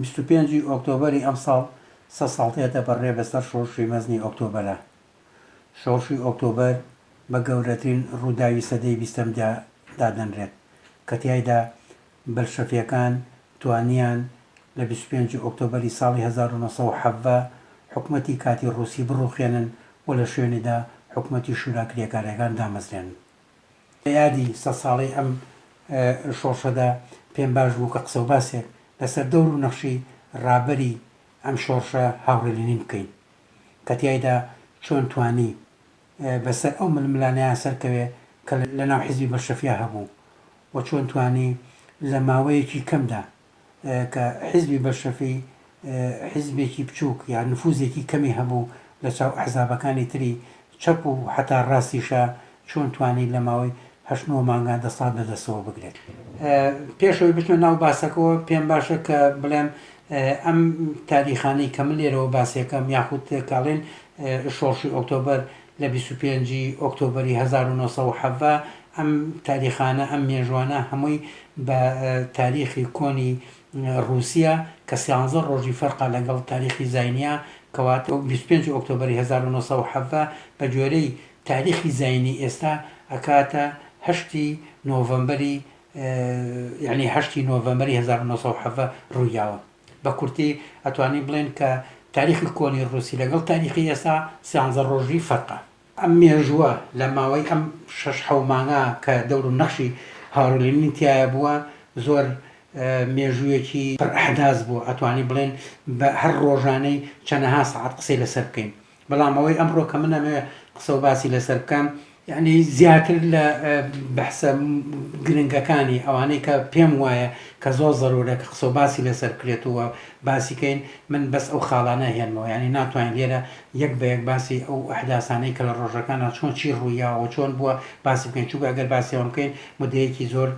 بیست و پێنج ی ئۆکتۆبەری ئەمساڵ سەد ساڵ دێتە بەڕێ بەسەر شۆڕشی مەزنی ئۆکتۆبەرا. شۆڕشی ئۆکتۆبەر بە گەورەترین ڕووداوی سەدەی بیستەمدا دادەنرێت، کە تیایدا بەلشەفییەکان توانییان لە بیست و پێنج ئۆکتۆبەری ساڵی هەزار و نۆ سەد و حەڤدە حکومەتی کاتی ڕووسی بڕووخێنن و لە شوێنیدا حکومەتی شورا کرێکارییەکان دامەزرێنن. لە یادی سەد ساڵەی ئەم شۆڕشەدا پێم باش بوو کە قسە و باسێک لەسەر دەور و نەخشی ڕابەری ئەم شۆڕشە هاوڕێ لینین بکەین کە تیایدا چۆن توانی بە سەر ئەو ململانێیان سەرکەوێ کە لە ناو حیزبی بەلشەفیا هەبوو و چۆن توانی لە ماوەیەکی کەمدا کە حیزبی بەلشەفی حیزبێکی بچووک یا نفوزێکی کەمی هەبوو لە چاو ئەحزابەکانی تری چەپ و حەتا راستیشە، چۆن توانی لە ماوەی هەشت نۆ مانگا دەسەڵات بە دەستەوە بگرێت؟ پێش ئەوەی بچمە ناو باسەکەوە پێم باشە کە بڵێم ئەم تاریخانەی کە من لێرەوە باسیەکەم یاخود کە ئەڵێن شۆڕشی ئۆکتۆبەر لە بیست و پێنج ی ئۆکتۆبەری هەزار و نۆ سەد و حەڤدە ئەم تاریخانە، ئەم مێژوانە هەمووی بە تاریخی کۆنی ڕووسیە کە سیانزە ڕۆژی فەرقە لەگەڵ تاریخی زاینیا کەواتە بیست و پێنج ئۆکتۆبەری هەزار و نۆ سەد و حەڤدە بە گوێرەی تاریخی زاینی ئێستا ئەکاتە هەشتی نۆڤەمبەری یەعنی هەشتی نۆڤەمەری هەزار و نۆ سەد و حەڤدە ڕوویاوە. بە کورتی ئەتوانین بڵێین کە تاریخی کۆنی ڕووسی لەگەڵ تاریخی ئێستا سیانزە ڕۆژی فەرقە. ئەم مێژووە لە ماوەی ئەم شەش حەو مانگە کە دەور و نەخشی هاوڕێ لینین تیایا بووە زۆر مێژوویەکی پڕ ئەحداس بووە ئەتوانین بڵێین بە هەر ڕۆژانەی چەنەها سەعات قسەی لەسەر بکەین بەڵام ئەوەی ئەمڕۆ کە من ئەمەوێ قسە و باسی لەسەر بکەم یعنی زیاتر لە بەحسە گرنگەکانی ئەوانەی کە پێم وایە کە زۆر زەرورە کە قسە و باسی لەسەر کرێت و باسیکەین من بەس ئەو خاڵانە هێنمەوە ینی ناتوانین لێرە یەک بە یەک باسی ئەو ئەحداسانەی کە لە ڕۆژەکان چۆن چی ڕوویاوە چۆن بووە باسی بکەین چووکە ئەگەر باسیەوە بکەین مدەیەکی زۆر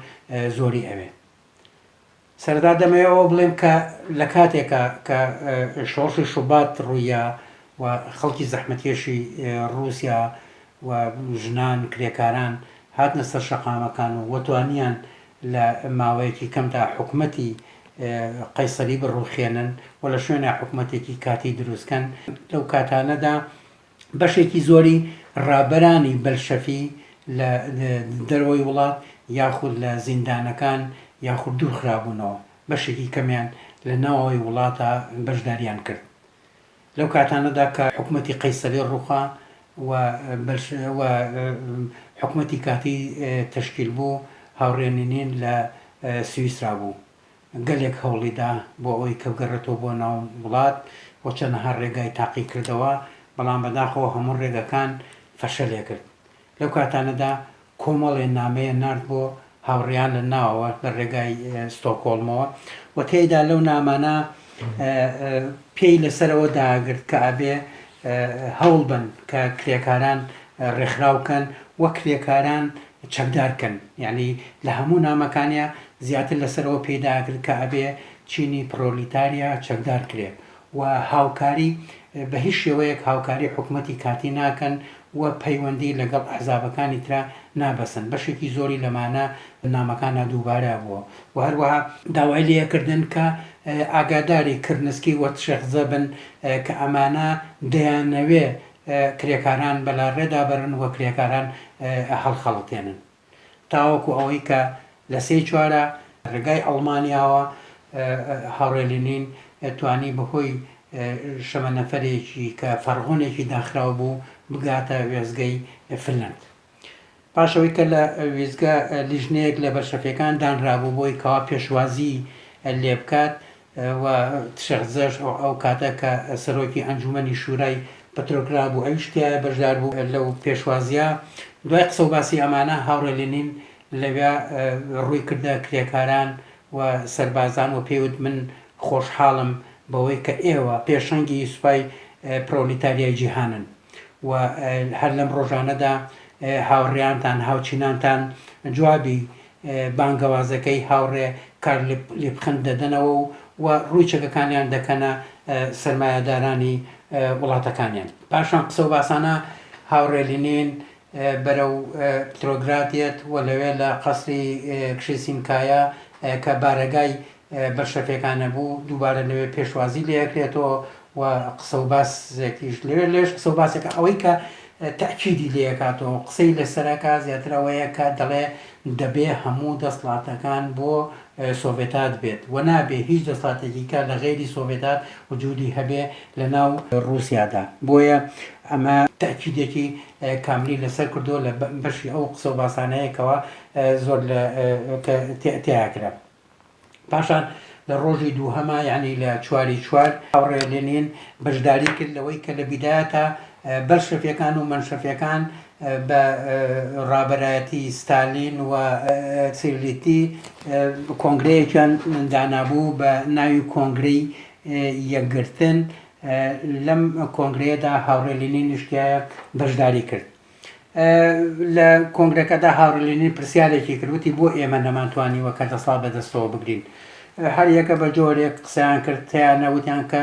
زۆری ئەوێ سەرەتا دەمەوێت ئەوە بڵێم کە لە کاتێکا کە شۆڕشی شوبات ڕوویە و خەڵکی زەحمەتکێشی ڕووسیا و ژنان کرێکاران هاتنە سەر شەقامەکان و وەتوانیان لە ماوەیەکی کەمدا حکومەتی قەیسەری بڕووخێنن و لە شوێنێ حکومەتێکی کاتی درووستکەن لەو کاتانەدا بەشێکی زۆری ڕابەرانی بەلشەفی لە دەرەوەی وڵات یاخود لە زیندانەکان یاخود دوورخرابوونەوە، بەشێکی کەمیان لە ناوەوەی وڵاتە بەشداریان کرد. لەو کاتانەدا کە حکومەتی قەیسەری ڕووخا و حکومەتی کاتی تەشکیل بوو، هاوڕێ نینین لە سویسرا بوو. گەلێک هەوڵی دا بۆ ئەوەی کە بگەڕێتەوە بۆ ناو وڵات و چەندەها ڕێگای تاقی کردەوە، بەڵام بەداخەوە هەموو ڕێگەکان فەشەلێ کرد. لەو کاتانەدا کۆمەڵێ نامەیە نارد بۆ هاوڕێیان لە ناوەوە لە ڕێگای ستۆکۆڵمەوە و تێیدا لەو نامانە پێی لەسەر ئەوە داگرت کە ئەبێ هەوڵ بەن کە کرێکاران ڕێکخراو کەن و کرێکاران چەکدار کەن یانی لە هەموو نامەکانیا زیاتر لەسەر ئەوە پێی داگرت کە ئەبێ چینی پڕۆلیتاریا چەکدار کرێ و هاوکاری بە هیچ شێوەیەک هاوکاری حکومەتی کاتی ناکەن و پەیوەندی لەگەڵ ئەحزابەکانی ترا نابەسن بەشێکی زۆری لەمانە نامەکانا دووبارە بووە و هەروەها داوای لێ کردن کە ئاگاداری کرنسکی و تشێخزە بن کە ئەمانە دەیانەوێ کرێکاران بەلاڕێدا بەرن و کرێکاران هەڵخەڵەتێنن تاوەکو ئەوەی کە لە سێی چوارە رێگای ئەڵمانیاوە هاوڕێ لینین توانی بەهۆی شەمەنەفەرێکی کە فەڕغۆنێکی داخراو بوو بگاتە وێستگەی فنلەند. پاش ئەوەی کە لە وێستگە لیژنەیەک لە بەلشەفیەکان دانرابوو بۆی کەوا پێشوازی لێ بکات و تشێخ زەش ئەو کاتە کە سەرۆکی ئەنجومەنی شورای پتروگراد بوو ئەویش تیایە بەشدار بوو لەو پێشوازیە دوای قسە و باسی ئەمانە هاوڕێ لینین لەوێ ڕووی کردە کرێکاران و سەربازان و پێوت من خۆشحاڵم بەوەی کە ئێوە پێشەنگی سوپای پرۆلیتاریای جیهانن. و هەر لەم ڕۆژانەدا هاوڕێیانتان، هاوچینانتان جوابی بانگەوازەکەی هاوڕێ کارل لیپخند دەدەنەوە و و ڕووی چەکەکانیان دەکەنە سەرمایەدارانی وڵاتەکانیان. پاشان قسە و باسانە هاوڕێ لینین بەرەو پترۆگراد یەت و لەوێ لە قەسری کشیسینکایە کە بارەگای بەشە پێکانەبوو دووبارە لەوێ پێشوازی لێکرێتەوە و قسە و باسێکیش لەوێ لێش قسە و باسێکە ئەوەی کە تاکیدی لێکاتەوە قسەی لەسەرەکە زیاتر ئەوەیە کە دەڵێ دەبێ هەموو دەسڵاتەکان بۆ سۆڤێتات بێت و نابێ هیچ دەسڵاتێکی کە لە غەیری سۆڤێتات وجودی هەبێ لە ناو ڕووسیادا بۆیە ئەمە تاکیدێکی کاملی لەسەر کردو لە بەشی ئەو قسە و باسانەیەکەوە زۆر لە تیاکرا پاشان لە ڕۆژی دووهەما یعنی لە چواری چوار هاوڕێ لێنین بەشداری کرد لەوەی کە لە بیدایەتە بەلشەفیەکان و منشەفیەکان بە ڕابەرایەتی ستالین و سیلیتی کۆنگرەیەکیان دانابوو بە ناوی کۆنگرەی یەکگرتن لەم کۆنگرەیەدا هاوڕێ لێنین نیشتایە بەشداری کرد لە کۆنگرەکەدا هاڕی لینین پرسیارێکی کرد وتی بۆ ئێمە نەمانتوانیوە کە دەسڵات بەدەستەوە بگرین هەر یەکە بە جۆرێک قسەیان کرد تیانە وتیان کە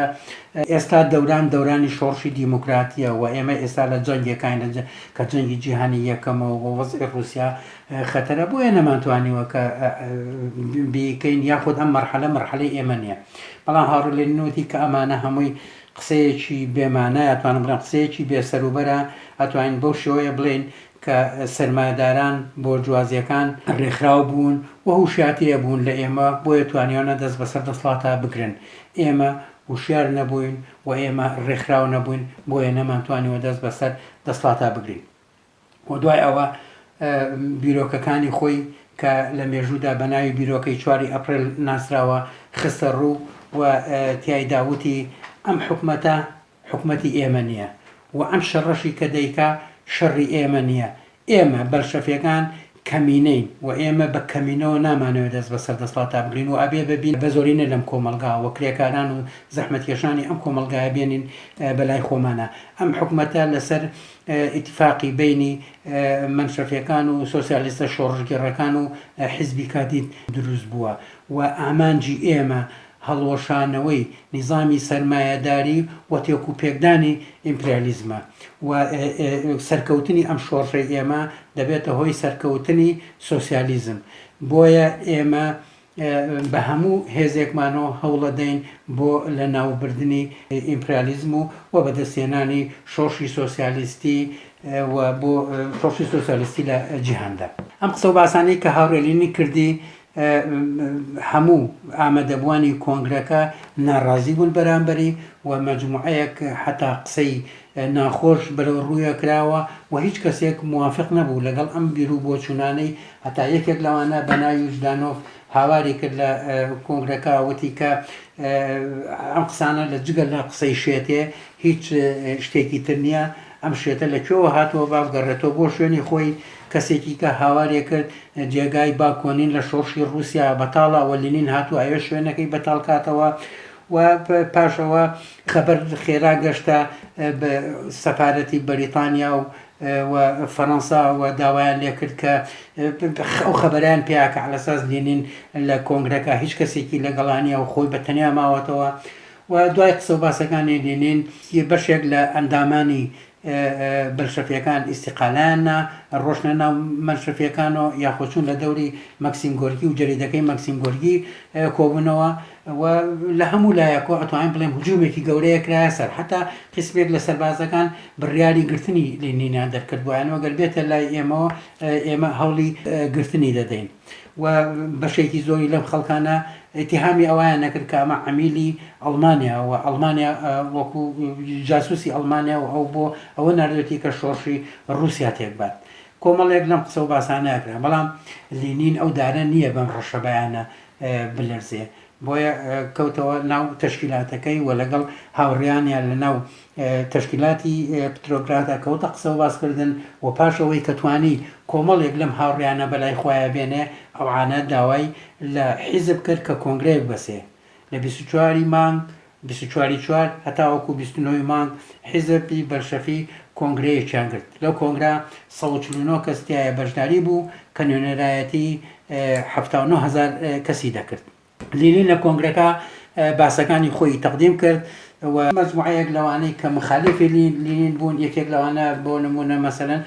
ئێستا دەوران دەورانی شۆڕشی دیموکراتیە و ئێمە ئێستا لە جەنگێکین کە جەنگی جیهانی یەکەمەوە بۆ وەزی رووسیا خەتەرە بۆیە نەمانتوانیوە کە بیکەین یاخود ئەم مەرحەلە مەرحەلەی ئێمە نیە بەڵام هاڕلێنوتی کە ئەمانە هەمووی قسەیەکی بێ مانایە، ئەتوانم بڵێم قسەیەکی بێ سەروبەرە، ئەتوانین بەو شێوەیە بڵێین کە سەرمایەداران بۆرجوازیەکان، ڕێکخراو بوون و هوشیاتر بوون لە ئێمە بۆیە توانیوانە دەست بەسەر دەسڵاتا بگرن، ئێمە هوشیار نەبووین و ئێمە ڕێکخراو نەبووین بۆیە نەمانتوانیوە دەست بەسەر دەسڵاتا بگرین. و دوای ئەوە بیرۆکەکانی خۆی کە لە مێژوودا بە ناوی بیرۆکەی چواری ئەپرێل ناسراوە خستە ڕوو و تیایدا وتی ئەم حکومەتە حکومەتی ئێمە نییە و ئەم شەڕەشی کە دەیکا شەڕی ئێمە نییە، ئێمە، بەلشەفیەکان، کەمینەین و ئێمە بە کەمینەوە نامانەوێت دەست بەسەر دەسڵاتدا بگرین و ئەبێ ببین بە زۆرینە لەم کۆمەڵگا و کرێکاران و زەحمەتکێشانی ئەم کۆمەڵگایە بێنین بەلای خۆمانا ئەم حکومەتە لەسەر ئیتفاقی بەینی مەنشەفیەکان و سۆسیالیستە شۆڕشگێڕەکان و حیزبی کادیت دروست بووە و ئامانجی ئێمە هەڵوەشانەوەی نیزامی سەرمایەداری و تێکوپێکدانی ئیمپریالیزمە و سەرکەوتنی ئەم شۆڕشەی ئێمە دەبێتە هۆی سەرکەوتنی سۆسیالیزم، بۆیە ئێمە بە هەموو هێزێکمانەوە هەوڵەدەین بۆ لەناوبردنی ئیمپریالیزم و و بەدەستهێنانی شۆڕشی سۆسیالیستی و بۆ شۆڕشی سۆسیالیستی لە جیهاندا. ئەم قسە و باسانەی کە هاوڕێ لینین کردی هەموو ئامەدەبوانی کۆنگرەکە ناڕازی بوون بەرامبەری و مەجموعەیەک حەتا قسەی ناخۆش بەرەو ڕوویا کراوە و هیچ کەسێک موافق نەبوو لەگەڵ ئەم بیرو بۆچوونانەی هەتا یەکێک لەوانە بەناوی ژدانۆف هاواری کرد لە کۆنگرەکە وتی کە ئەم قسانە لە جگە لە قسەی شێتێ هیچ شتێکی تر نییە ئەم شێتە لە کوێوە هاتووە با بگەڕێتەوە بۆ شوێنی خۆی، کەسێکی کە هاوارێ کرد جێگای باکۆنین لە شۆڕشی ڕووسیا بەتاڵە و لینین هاتووە ئەوێ شوێنەکەی بەتاڵ کاتەوە و پاش ئەوە خەبەر خێرا گەشتە سەفارەتی بەریتانیا و و فەرەنسا و داوایان لێ کرد کە ئەو خەبەریان پێیا کە عەلەساس لینین لە کۆنگرەکە هیچ کەسێکی لەگەڵانیە و خۆی بە تەنیا ماوەتەوە و دوای قسە و باسەکانی لینین ی بەشێک لە ئەندامانی بەلشەفیەکان ئیستیقالەیان نا، ڕۆشتنە ناو مەلشەفیەکان و یاخۆ چوون لە دەوری مەکسیم گۆرکی و جەریدەکەی مەکسیم گۆرکی کۆبوونەوە و لە هەموو لایەکەوە ئەتوانین بڵێین هجوومێکی گەورەیە کرایە سەر حەتا قیسمێک لە سەربازەکان بڕیاری گرتنی لینینیان دەرکردبوایەن و گەر بێتە لای ئێمەوە ئێمە هەوڵی گرتنی دەدەین. و بەشێکی زۆری لەم خەڵکانە ئیتیهامی ئەوەیان نەکرد کە ئەمە عەمیلی ئەڵمانیا و ئەڵمانیا وەکو جاسوسی ئەڵمانیا و ئەو بۆ ئەوە نردێتی کە شۆڕشی ڕوسیا تێکبات کۆمەڵێک لەم قسە و باسانەکرا بەڵام لینین ئەو دارە نییە بەم ڕەشەبایانە بلەرزێ بۆیە کەوتەوە ناو تەشکیلاتەکەی و لەگەڵ هاوڕێیانیان لە ناو تەشکیلاتی پترۆگرادا کەوتە قسە و باسکردن و پاشەوەی کە توانی کۆمەڵێک لەم هاوڕیانە بەلای خۆیان بێنێ ئەوانە داوای لە حیزب کرد کە کۆنگرەیەک بەسێ لە بیست و چوار ی مانگ بیست و چوار ی چوار هەتاوەکو بیست و نۆ ی مانگ حیزب ی بەلشەفی کۆنگرەیەکیان گرت لەو کۆنگرە سەد و چل و نۆ کەس تیایا بەشداری بوو کە نوێنەرایەتی حەفتا و نۆ هەزار کەسی دەکرد. لینین لە کۆنگرەکە باسەکانی خۆیی تەقدیم کرد و مەجموعەیەک لەوانەی کە مخالیفی لینین بوون یەکێک لەوانە بۆ نموونە مەسەلەن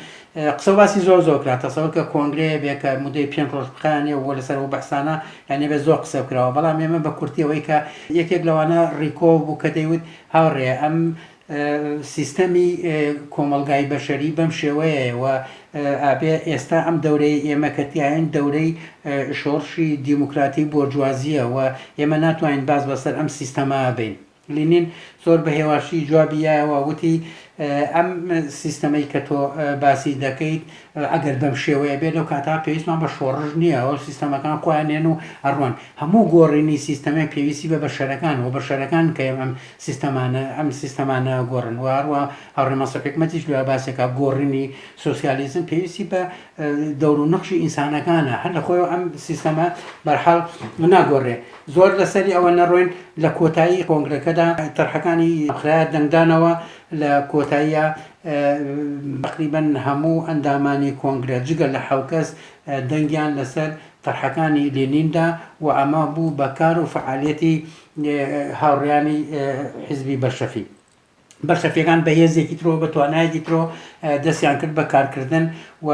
قسە و باسی زۆر زۆر کرا تەسەوەر کە کۆنگرەیە بێ کە مدەی پێنج ڕۆژ بخایەنێ و لەسەر ئەو بەحسانە یانێ بێ زۆر قسە کراوە بەڵام ئێمە بە کورتی ئەوەی کە یەکێک لەوانە ڕیکۆ بوو کە دەیوت هاوڕێ ئەم سیستەمی کۆمەلگای بەشەری بەم شێوەیەوە ئابێ ئێستا ئەم دەورەی ئێمە کەتیایەن دەورەی شۆڕشی دیموکراتی بۆرجوازیە و ئێمە ناتوانین باز بەسەر ئەم سیستەما بین لینین زۆر بە هێواشی جوابی یایەوە وتی، ئەم سیستەمەی کە تۆ باسی دەکەیت ئەگەر بەم شێوەیە بێت، لەو کاتە پێویستمان بە شۆڕش نییە، ئەو سیستەمەکان خۆیان دێن و ئەڕۆن. هەموو گۆڕینی سیستەمێک پێویستی بە بەشەرەکانە و بەشەرەکانن کە ئێمە ئەم سیستەمانە ئەم سیستەمانە ئەگۆڕن و هەروەها هاوڕێ مەنسوور حیکمەتیش لە باسێکا گۆڕینی سۆسیالیزم پێویستی بە دەور و نەخشی ئینسانەکانە هەر لە خۆیەوە ئەم سیستەمە بەرحاڵ ناگۆڕێ زۆر لەسەری ئەوە نەڕۆین لە کۆتایی کۆنگرەکەدا تەرحەکانی خراە دەنگدانەوە لە کۆتاییە بەقریبەن هەموو ئەندامانی کۆنگرە جگە لە حوکەس دەنگیان لەسەر تەرحەکانی لێنیندا و ئەمە بوو بە کار و فعالەتی هاوڕیانی حزبی بەشەفی بەلشەفیەکان بە هێزێکی ترو بە توانایەکی ترو دەستیان کرد بە کارکردن و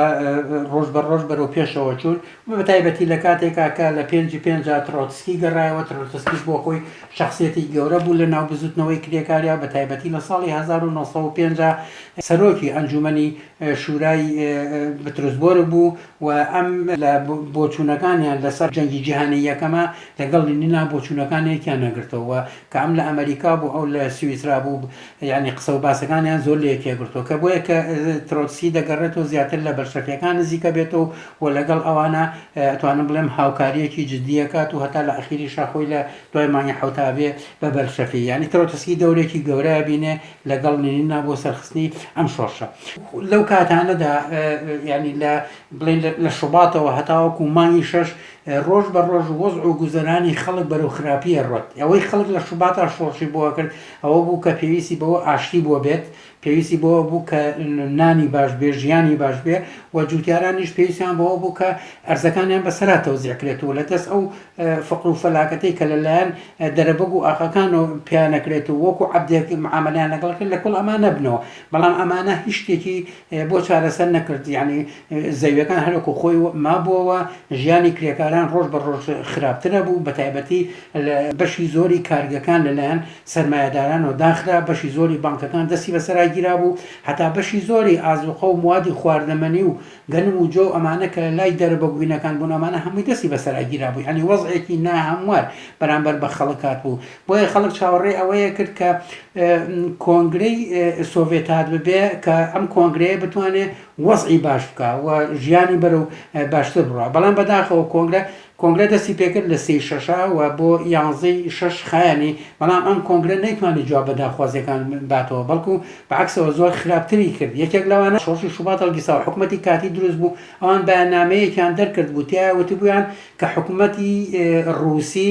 ڕۆژ بە ڕۆژ بەرەو پێشەوە چوون بە تایبەتی لە کاتێکا کە لە پێنجی پێنج ترۆتسکی گەڕایەوە ترۆتسکیش بۆ خۆی شخصێتی گەورە بوو لە ناو بزوتنەوەی کرێکاریا بە تایبەتی لە ساڵی 1950 سەرۆکی ئەنجومنی شورای بترسبۆر بوو و ئەم لە بۆچوونەکانیان لەسەر جەنگی جیهانی یەکەمە لەگەڵ لینینا بۆچوونەکانێکیان نەگرتەوە کام لە ئەمەریکا بوو ئەو لە سویسرا بوو یانی قسە و باسەکانیان زۆر لێ تێگرتووە کە بۆیە کە ترۆتسی دەگەڕێت و زیاتر لە بەلشەفیەکان نزیکە بێت و و لەگەڵ ئەوانە ئەتوانم بڵێم هاوکاریەکی جددیەکات و هەتا لە ئەخیری شاخۆی لە دوای مانگی حوتابێ بە بەلشەفی یانی ترۆتسکی دەورێکی گەورە بینێ لەگەڵ نینینا بۆ سەرخستنی ئەم شۆڕشە لەو کاتانەدا ینی لە بڵێن لە شوباتەوە هەتاوەکو مانگی شەش ڕۆژ بە ڕۆژ وەزع و گوزەرانی خەڵک بەرەو خراپی ئەڕوات، ئەوەی خەڵک لە شوباتا شۆڕشی بۆ ئەکرد ئەوە بوو کە پێویستی بەوە ئاشتی بۆ بێت، پێویستی بەوە بوو کە نانی باش بێ، ژیانی باش بێ و جوتیارانیش پێویستیان بەوە بوو کە ئەرزەکانیان بە سەرا تەوزیع کرێت و لە دەست ئەو فەقر و فەلاکەتەی کە لە لایەن دەرەبەگ و ئاقاکانەوە پێیان ئەکرێت و وەکو عەبدێک معامەلەیان لەگەڵ ئەکرێت لە کوڵ ئەما نەبنەوە، بەڵام ئەمانە هیچ شتێکی بۆ چارەسەر نەکرد یانی زەویەکان هەروەکو خۆی مابووەوە ژیانی کرێکاران ڕۆژ بە ڕۆژ خراپتر ئەبوو بە تایبەتی لە بەشی زۆری کارگەکان لەلایەن سەرمایەدارانەوە داخرا بەشی زۆری بانکەکان دەستی بەسەرا گیرابوو هەتا بەشی زۆری ئازوقە و موادی خواردەمەنی و گەنم و جۆ و ئەمانە کە لای دەرە بە گوینەکان بوون ئەمانە هەمووی دەستی بەسەرا گیرابوو یانی وەزعێکی ناهەموار بەرامبەر بە خەڵک هاتبوو بۆیە خەڵک چاوەڕێی ئەوەیە کرد کە کۆنگرەی سۆڤێت هات ببێ کە ئەم کۆنگرەیە بتوانێ وەزعی باش بکە و ژیانی بەرە و باشتر بڕە بەڵام بەداخەوە کۆنگرە کۆنگرە دەستی پێکرد لە سی شەشا و بۆ یانزەی شەش خایانی بەڵام ئەم کۆنگرە نەیتوانی جواب بە داخوازیەکان باتەوە بەڵکو بەعکسەوە زۆر خراپتری کرد یەکێک لەوانە شۆڕشی شوبات هەڵگیساوە حکوومەتی کاتی دروست بوو ئەوان بەیاننامەیەکیان دەرکرد بوو تیا وتبوویان کە حکوومەتی ڕووسی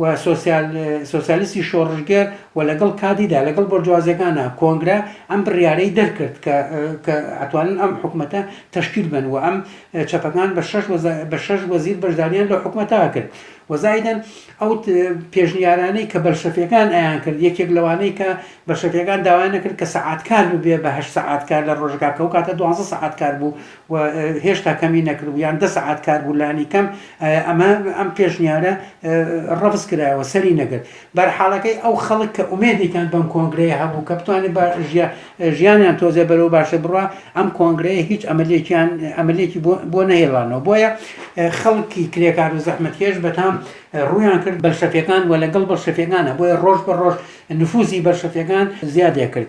و سۆسیال سۆسیالیستی شۆڕشگێر و لەگەڵ کادیدا لەگەڵ بۆرجوازیەکانا کۆنگرە ئەم بڕیارەی دەرکرد کە کە ئەتوانن ئەم حکومەتە تەشکیل بەن و ئەم چەپەکان بە شەش وەزا بە شەش وەزیر بەشداریان لە حکومەتا کرد وەزایدەن ئەو پێشنیارانەی کە بەلشەفیەکان ئەیان کرد یەکێک لەوانەی کە بەشەفیەکان داوایان نەکرد کە سەعات کار ببێ بە هەشت سەعات کار لە ڕۆژەکە کە ئەو کاتە دوازدە سەعات کار بوو و هێشتا کەمی نەکردبوو یان دە سەعات کار بوو لانیکەم ئەمە ئەم پێشنیارە ڕەفز کرایەوە سەری نەگرت بەرحاڵەکەی ئەو خەڵک کە ئومێدێکیان بەم کۆنگرەیە هەبوو کە بتوانێت ژیانیان تۆزێ بەرەو باشە بڕە ئەم کۆنگرەیە هیچ ئەمەلێکیان ئەمەلێکی بۆ نەهێڵانەوە بۆیە خەڵکی کرێکار و زەحمەتکێش بەتام ڕویان کرد بەلشەفەکان و لەگەڵ بەڵشەفەکانە بۆیە ڕۆژ بە ڕۆژ نفوزی بەلشەفەکان زیادێ کرد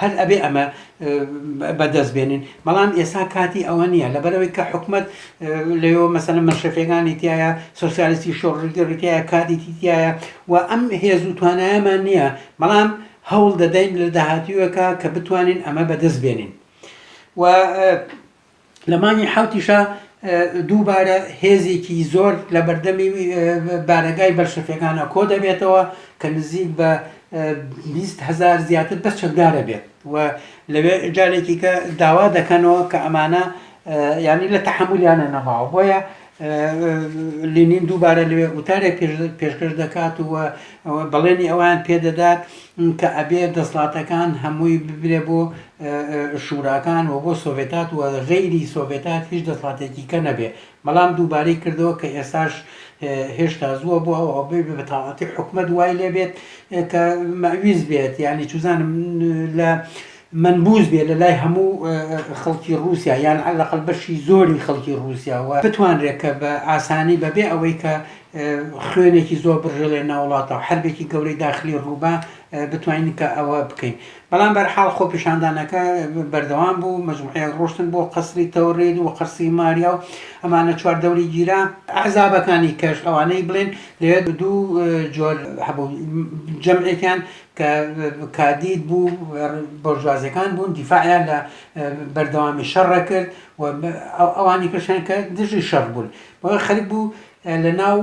هەر ئەبێ ئەمە بە دەست بێنین بەڵام ئێستا کاتی ئەوە نییە لەبەرەوەی کە حکومت لەوە مەسەنە مەشەفەکانی تایە سوسیالستی شۆڕژگەڕیتایە کادیتی تایە و ئەم هێز و توانایەمان نییە بەڵام هەوڵ دەدەین لە داهاتیوەکە کە بتوانین ئەمە بەدەست بێنین و لە مانگی حەوتیشا دووبارە هێزێکی زۆر لە بەردەمی بارەگای بەلشەفیەکانە کۆ دەبێتەوە کە نزیک بە هزار زیاتر بەس چەکدارە بێت و لەوێ جارێکی کە داوا دەکەنەوە کە ئەمانە ینی لە تەحملیانە نەماوە بۆیە لینین دووبارە لەوێ وتارێک پێشکەش دەکات و بەڵێنی ئەوان پێدەدات کە ئەبێ دەسڵاتەکان هەمووی ببرێ بۆ شوراکان و بۆ سۆڤێتات و غەیری سۆڤێتات هیچ دەسڵاتێکی کە نەبێ بەڵام دووبارەی کردەوە کە ئێستاش هێشتا زووە بۆ ئەو ئەو بە تاڵاتی حکومت وای لێبێت کە مەویز بێت یعنی چزانم لە منبووز بێت لە لای هەموو خەڵکی ڕووسیا یان عەلەقەل بەشی زۆری خەڵکی ڕووسیا و بتوانرێت کە بە ئاسانی بە بێ ئەوەی کە خوێنێکی زۆر بڕژێلێ ناو وڵاتە و حەربێکی گەورەی داخلی ڕوو با بتوانین کە ئەوە بکەین بەڵام بەر حاڵ خۆپیشاندانەکە بەردەوام بوو مەجموعەیەک ڕۆشتن بۆ قەسری تەورێد و قەسری ماریا و ئەمانە چوار دەوری گیرا ئەحزابەکانی کەش ئەوانەی بڵێن لەوێ دوو جۆر هەبوو جەمعێکیان کە کادیر بوو بۆرژوازیەکان بوون دیفاعیان لە بەردەوامی شەڕە کرد و ئەوانی کەشیان کە دژی شەڕ بوون بەوەی خەریک بوو لە ناو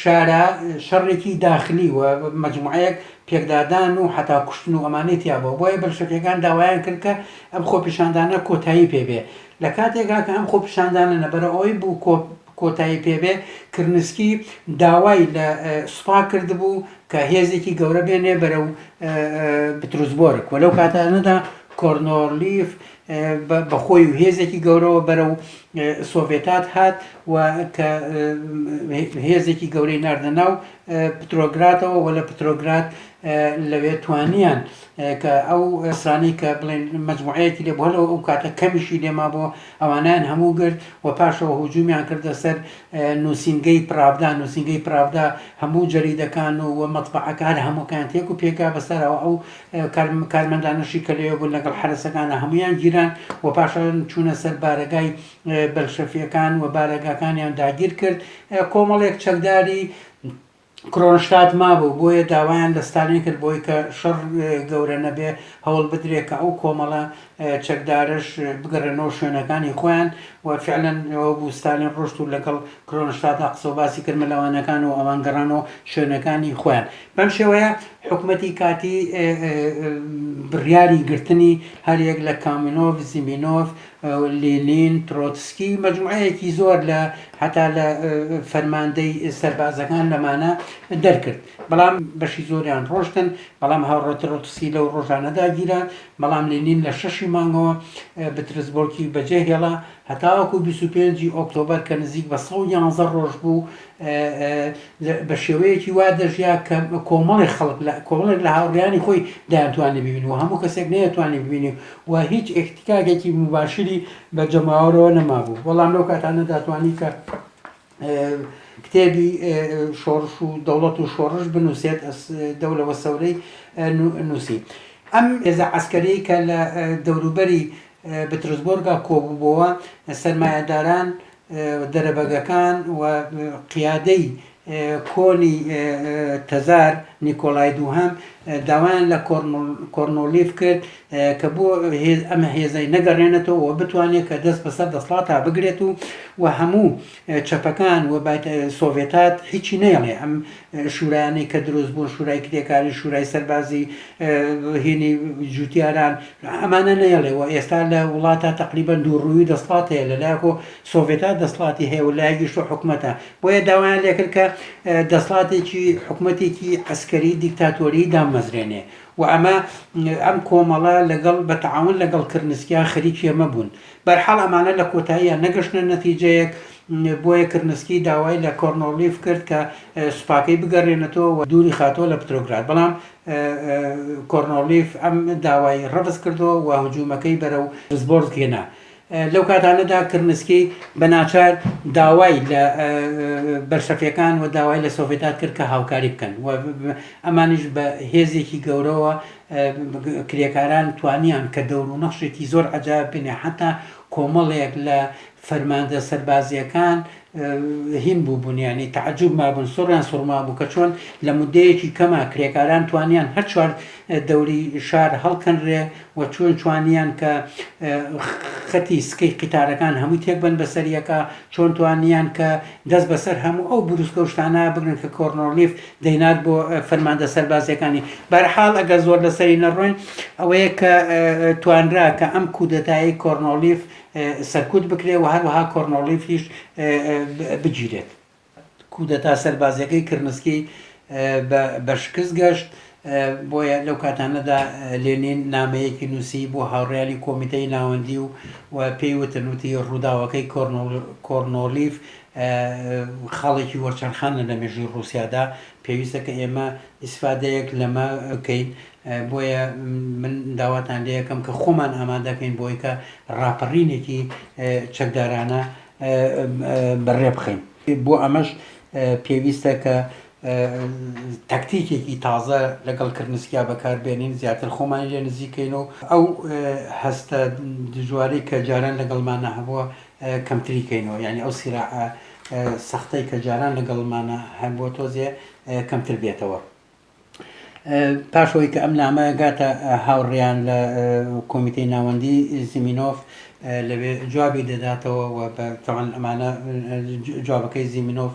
شارە شەڕێکی داخلی و مجموعەیەک پێکدادان و حتا کوشتن و ئەمانەی تیابەوە بۆیە بەلشەفیەکان داوایان کرد کە ئەم خۆپیشاندانە کۆتایی پێبێ لە کاتێکا کە ئەم خۆپیشاندانە نەبەرە ئەوەی بوو کۆ کۆتایی پێ بێ، کرنسکی داوای لە سوپا کردبوو کە هێزێکی گەورە بێنێ بەرەو بتروسبۆرگ و لەو کاتانەدا کۆرنۆرلیف بە خۆی و هێزێکی گەورەوە بەرەو سۆڤێتات هات و کە هێزێکی گەورەی ناردە ناو پترۆگراتەوە و لە پترۆگرات لەوێ توانیان کە ئەو سانەی کە بڵێن مجموعەیەکی لێ بۆ لەو ئەو کاتە کەمیشی لێما بۆ ئەوانەیان هەموو گرت و پاشەوە هجوومیان کردە سەر نووسینگەی پراڤدا، نووسینگەی پراڤدا هەموو جەریدەکان و و مەتبەعەکە هەر هەمووەکەیان تێک و پێکا بە سەرەوە ئەو کارمەندانەشی کە لەوێ بوون لەگەڵ حەرەسەکانا هەموویان گیران و پاشان چوونە سەر بارەگای بەلشەفییەکان و بارەگاکانیان داگیر کرد کۆمەڵێک چەکداری کرۆنشتات مابوو، بۆیە داوایان لە ستالین کرد بۆی کە شەڕ گەورە نەبێ هەوڵ بدرێ کە ئەو کۆمەڵە چەکدارەش بگەڕێنەوە شوێنەکانی خۆیان و فعلەن ئەوە بوو ستالین ڕۆشت و لەگەڵ کرۆنشتادا قسە و باسی کرد مەلەوانەکان و ئەوان گەڕانەوە شوێنەکانی خۆیان بەم شێوەیە حکومەتی کاتی بڕیاری گرتنی هەریەک لە کامینۆف زیمینۆف لینین، ترۆتسکی، مەجموعەیەکی زۆر لە هەتا لە فەرماندەی سەربازەکان لەمانە دەرکرد، بەڵام بەشی زۆریان ڕۆشتن، بەڵام هاوڕێ ترۆتسکی لەو ڕۆژانەدا گیرا، بەڵام لینین لە شەشی مانگەوە بترسبۆرکی بەجێهێڵا هەتاوەکو بیست و پێنجی ئۆکتۆبەر کە نزیک بە سەد و یانزە ڕۆژ بوو بە شێوەیەکی وا دەژیا کە کۆمەڵی خەڵک لە کۆمەڵێک لە هاوڕیانی خۆی دایانتوانی ببین و هەموو کەسێک نەیەتوانی ببینی و هیچ ئێکتیکاکێکی مباشری بە جەماوەرەوە نەمابوو بەڵام لەو کاتانە داتوانی کە کتێبی شۆڕش و دەوڵەت و شۆڕش بنووسێت دەولەوە سەورەی نووسی ئەم ئێزە عسکەری کە لە دەوروبەری بترسبۆرگا کۆبووبەوە سەرمایەداران دەرەبەگەکان و قیادەی کۆنی تزار نیکۆلای دووهەم داوایان لە کۆرنڵیف کرد کە بۆ ئەمە هێزەی نەگەڕێنێتەوە و بتوانێت کە دەست بەسەر دەسڵاتا بگرێت و و هەموو چەپەکان و سۆڤێتات هیچی نەیڵێ ئەم شورایانەی کە دروست بوون، شورای کرێکاری، شورای سەربازی، هینی جوتیاران، ئەمانە نەیەڵێ و ئێستا لە وڵاتا تەقریبەن دوو ڕوویی دەسڵات هەیە، لە لایەک و سۆڤێتا دەسڵاتی هەیە و لایەکیش و حکومەتە، بۆیە داوایان لێ کرد کە دەسڵاتێکی حکومەتێکی عەسکەری دیکتاتۆری دامەزرێنێ و ئەمە ئەم کۆمەڵە لەگەڵ بە تەعاون لەگەڵ کرنسکیان خەریکی ئەمە بوون، بەرحاڵ ئەمانە لە کۆتاییا نەگەشتنە نەتیجەیەک، بۆیە کرنسکی داوای لە کۆرنۆلیف کرد کە سوپاکەی بگەرێنێتەوە و دووری خاتەوە لە پترۆگراد، بەڵام کۆرنۆلیف ئەم داوای ڕەفز کردەوە و هجوومەکەی بەرەو زبۆرسک هێنا. لەو کاتانەدا کرنسکی بە ناچار داوای لە بەلشەفیەکان و داوای لە سۆڤێتات کرد کە هاوکاری بکەن و ئەمانیش بە هێزێکی گەورەوە کرێکاران توانیان کە دەور و نەخشێکی زۆر عەجایب بینێ حەتا کۆمەڵێک لە فەرماندە سەربازیەکان هین بوو بوون ینی تعجب مابوون سوڕیان سوڕما بوو کە چۆن لە مدەیەکی کەما کرێکاران توانیان هەر چوار دەوری شار هەڵکەنرێ و چۆن چوانیان کە خەتی سکەی قیتارەکان هەموو تێک بن بەسەریەکە چۆن توانیان کە دەست بەسەر هەموو ئەو بروسکە شتانە بگرن کە کۆرنۆلیف دەینات بۆ فەرماندە سەربازیەکانی بەرحاڵ ئەگەر زۆر لەسەری نەڕۆین ئەوەیە کە توانرا کە ئەم کودەتایی کۆرنۆلیف سەرکوت بکرێت و هەروەها کۆرنۆلیفیش بگیرێت کودەتا سەربازیەکەی کرنسکی بە شکست گەشت بۆیە لەو کاتانەدا لێنین نامەیەکی نووسی بۆ هاوڕیانی کۆمیتەی ناوەندی و و پێی وتنوتی ڕووداوەکەی کۆرنۆلیف خاڵێکی وەرچەرخانە لە مێژووی ڕووسیادا، پێویستە کە ئێمە ئیسفادەیەک لەمە بکەین، بۆیە من داواتان لێ ئەکەم کە خۆمان ئامادە کەین بۆی کە ڕاپەڕینێکی چەکدارانە بەڕێ بخەین. بۆ ئەمەش پێویستە کە تەکتیکێکی تازە لەگەڵ کرنسکیا بەکاربێنین زیاتر خۆمانی لێ نزیکەین و ئەو هەستە دژوارەی کە جاران لەگەڵمانە هەبووە کەمتری کەینەوە یعنی ئەو سیرا سەختەی کە جاران لەگەڵمانە هەبووە تۆزێ کەمتر بێتەوە. پاشەوەی کە ئەم نامە گاتە هاوڕیان لە کۆمیتەی ناوەندی زیمینۆف لەوێ جوابی دەداتەوە و بەتەوان ئەمانە جوابەکەی زیمینۆف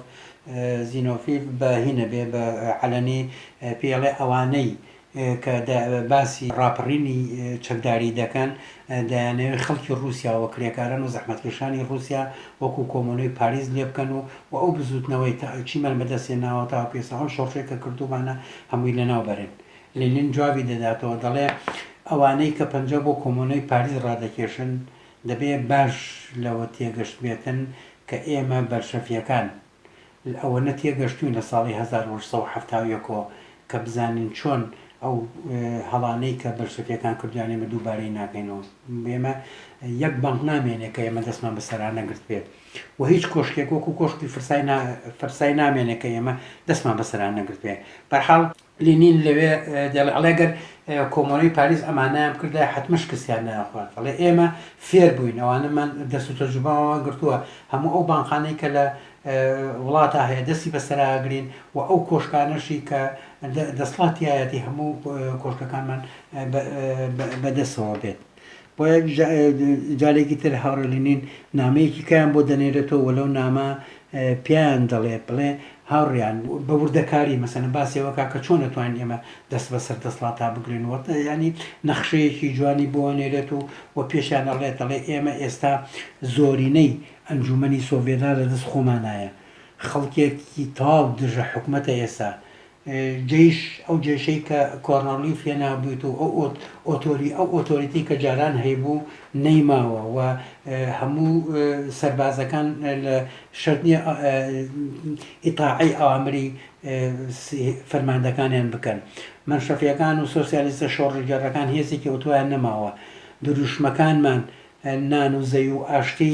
زینۆفیل بە هی نەبێ بە عەلەنی پێی ئەڵێ ئەوانەی کە باسی ڕاپەڕینی چەکداری دەکەن دەیانەوێ خەڵکی ڕووسیا و کرێکاران و زەحمەتکێشانی ڕووسیا وەکوو کۆمۆنەی پاریس لێ بکەن و و ئەو بزووتنەوەی تا چیمان بە دەست هێناوە تاوەکو ئێستا ئەو شۆڕشەی کە کردوومانە هەمووی لەناو بەرن. لینین جوابی دەداتەوە دەڵێ ئەوانەی کە پەنجە بۆ کۆمۆنەی پاریس ڕادەکێشن دەبێ باش لەوە تێگەشتبێتن کە ئێمە بەلشەفیەکان لەوەنە تێگەشتووین لە ساڵی هەزار و هەشت سەد و حەفتا و یەک ەوە کە بزانین چۆن ئەو هەڵانەی کە بەلشەفیەکان کردویان ئێمە دووبارەی ناکەینەوە ئێمە یەک بانق نامێنێ کە ئێمە دەستمان بە سەرا نەگرتبێت و هیچ کۆشکێک وەکو کۆشکی فرسای فرسای نامێنێ کە ئێمە دەستمان بە سەرا نەگرتبێ بەرحاڵ لینین لەوێ دەڵێ، ئەڵێ گەر کۆمۆنەی پاریس ئەمانەیان بکردایە حەتمە شکستیان دایانخوارد. ئەڵێ ئێمە فێر بووین، ئەوانەمان دەست و تەجروبەمان گرتووە، هەموو ئەو بانقانەی کە لە وڵاتا هەیە دەستی بەسەرا ئەگرین و ئەو کۆشکانەشی کە دەسڵات تیایەتی هەموو کۆشکەکانمان بەدەستەوە بێت. بۆیە جارێکی تر هاوڕێ لینین نامەیەکی کەیان بۆ دەنێرێتەوە و لەو نامە پیان دەڵێ بڵێ هاوڕیان بە وردەکاری مەسەنە باسێوەکە کە چۆن نەتوانین ئێمە دەست بە سەر دەسڵاتا بگرین وەتە ینی نەخشەیەکی جوانی بۆ نێرێت و و پێشیان دەڵێت دەڵێ ئێمە ئێستا زۆرینەی ئەنجومنی سۆڤێدا لە دەست خۆمانایە خەڵکێکی تاو دژە حکوومەتە ئێستا جەیش، ئەو جەیشەی کە کۆرنڵلیف هێنابوویت و ئەو ئۆتۆری، ئەو ئۆتۆریتی کە جاران هەیبوو نەیماوە و هەموو سەربازەکان لە شەرت نییە ئیتاعەی ئەوامری فەرماندەکانیان بکەن. مەنشەفییەکان و سۆسیالیستە شۆڕشگێڕەکان هێزێکی ئەوتۆیان نەماوە. دروشمەکانمان نان و زەوی و ئاشتی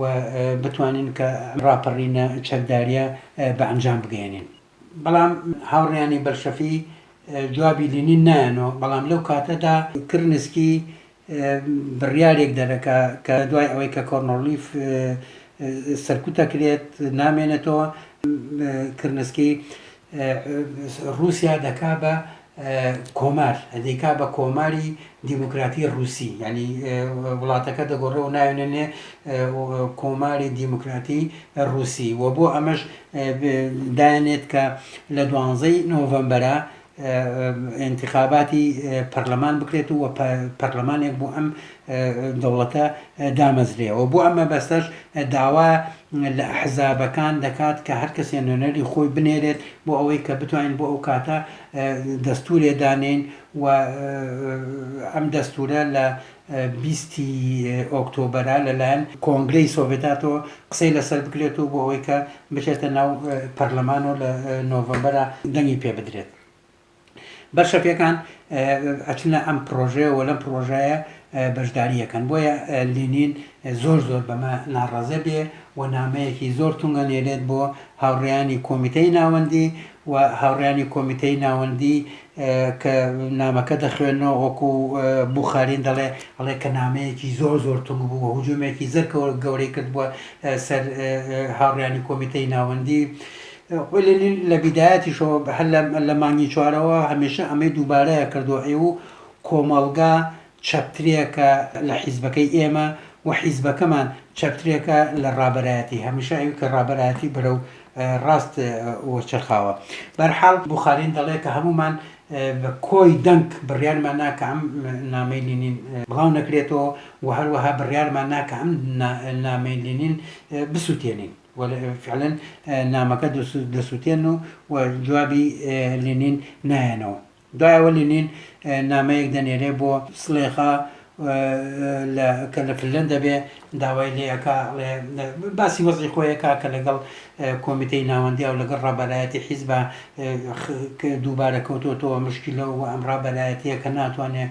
و بتوانین کە ئەم ڕاپەڕینە چەکداریە بە ئەنجام بگەیەنین. بەڵام هاوڕێیانی بەلشەفی جوابی لینین نایەنۆ، بەڵام لەو کاتەدا کرنسکی بڕیارێک دەرەکا کە دوای ئەوەی کە کۆرنۆلیف سەرکوت ئەکرێت نامێنێتۆ، کرنسکی ڕوسیا دەکا بە کۆمار دەیکا بە کۆماری دیموکراتی ڕوسی یعنی وڵاتەکە دەگۆڕێ و ناوێنێ کۆماری دیموکراتی ڕوسی و بۆ ئەمەش دایانێت کە لە دوانزەی نۆڤەمبەرە انتخاباتی پەرلەمان بکرێت و پەرلەمانێک بۆ ئەم دەوڵەتە دامەزرێ و بۆ ئەم مەبەستەش داوا لە ئەحزابەکان دەکات کە هەر کەسێ نوێنەری خۆی بنێرێت بۆ ئەوەی کە بتوانین بۆ ئەو کاتە دەستورێ دانێین و ئەم دەستورە لە بیستی ئۆکتۆبەرە لەلایەن کۆنگرەی سۆڤێتاتەوە قسەی لەسەر بکرێت و بۆ ئەوەی کە بچێتە ناو پەرلەمان و لە نۆڤەمبەرە دەنگی پێ بدرێت بەلشەفیەکان ئەچنە ئەم پرۆژەیە و لەم پرۆژایە بەشداریەکەن بۆیە لینین زۆر زۆر بەمە ناڕازێ بێ و نامەیەکی زۆر تونگە نێرێت بۆ هاوڕیانی کۆمیتەی ناوەندی و هاوڕیانی کۆمیتەی ناوەندی کە نامەکە دەخوێنەوە وەکو بخارین دەڵێ ئەڵێ کە نامەیەکی زۆر زۆر تونگ بوو و هجوومێکی زەر گەورەی کردبووە سەر هاوڕیانی کۆمیتەی ناوەندی خۆی لە نوێ لە بیدایەتیشەوە بە هەر لە مانگی چوارەوە هەمێشە ئەمەی دووبارەیە کردووە ئێوو کۆمەڵگا چەپترێکە لە حیزبەکەی ئێمە و حیزبەکەمان چەپترێکە لە ڕابەرایەتی هەمیشە ئەوی کە ڕابەرایەتی بەرەو ڕاست وەچەرخاوە بەرحاڵ بوخارین دەڵێ کە هەموومان بە کۆی دەنگ بڕیارمان نا کە ئەم نامەی لینین بڵاو نەکرێتەوە و هەروەها بڕیارمان نا کە ئەم نامەی لینین بسووتێنین. و فعلا نامەکە دەسوتێن و و جوابی لینین نایەنەوە دوایەوە لینین نامەیەک دەنێرێ بۆ سلێخا کە لە فلەن دەبێ داوای لێەکە باسی وەزی خۆیەکە کە لەگەڵ کۆمیتەی ناوەندیا و لەگەڵ ڕابەرایەتی حیزبە دووبارە کەوتۆتەوە مشکلەوە و ئەم ڕابەرایەتیە کە ناتوانێت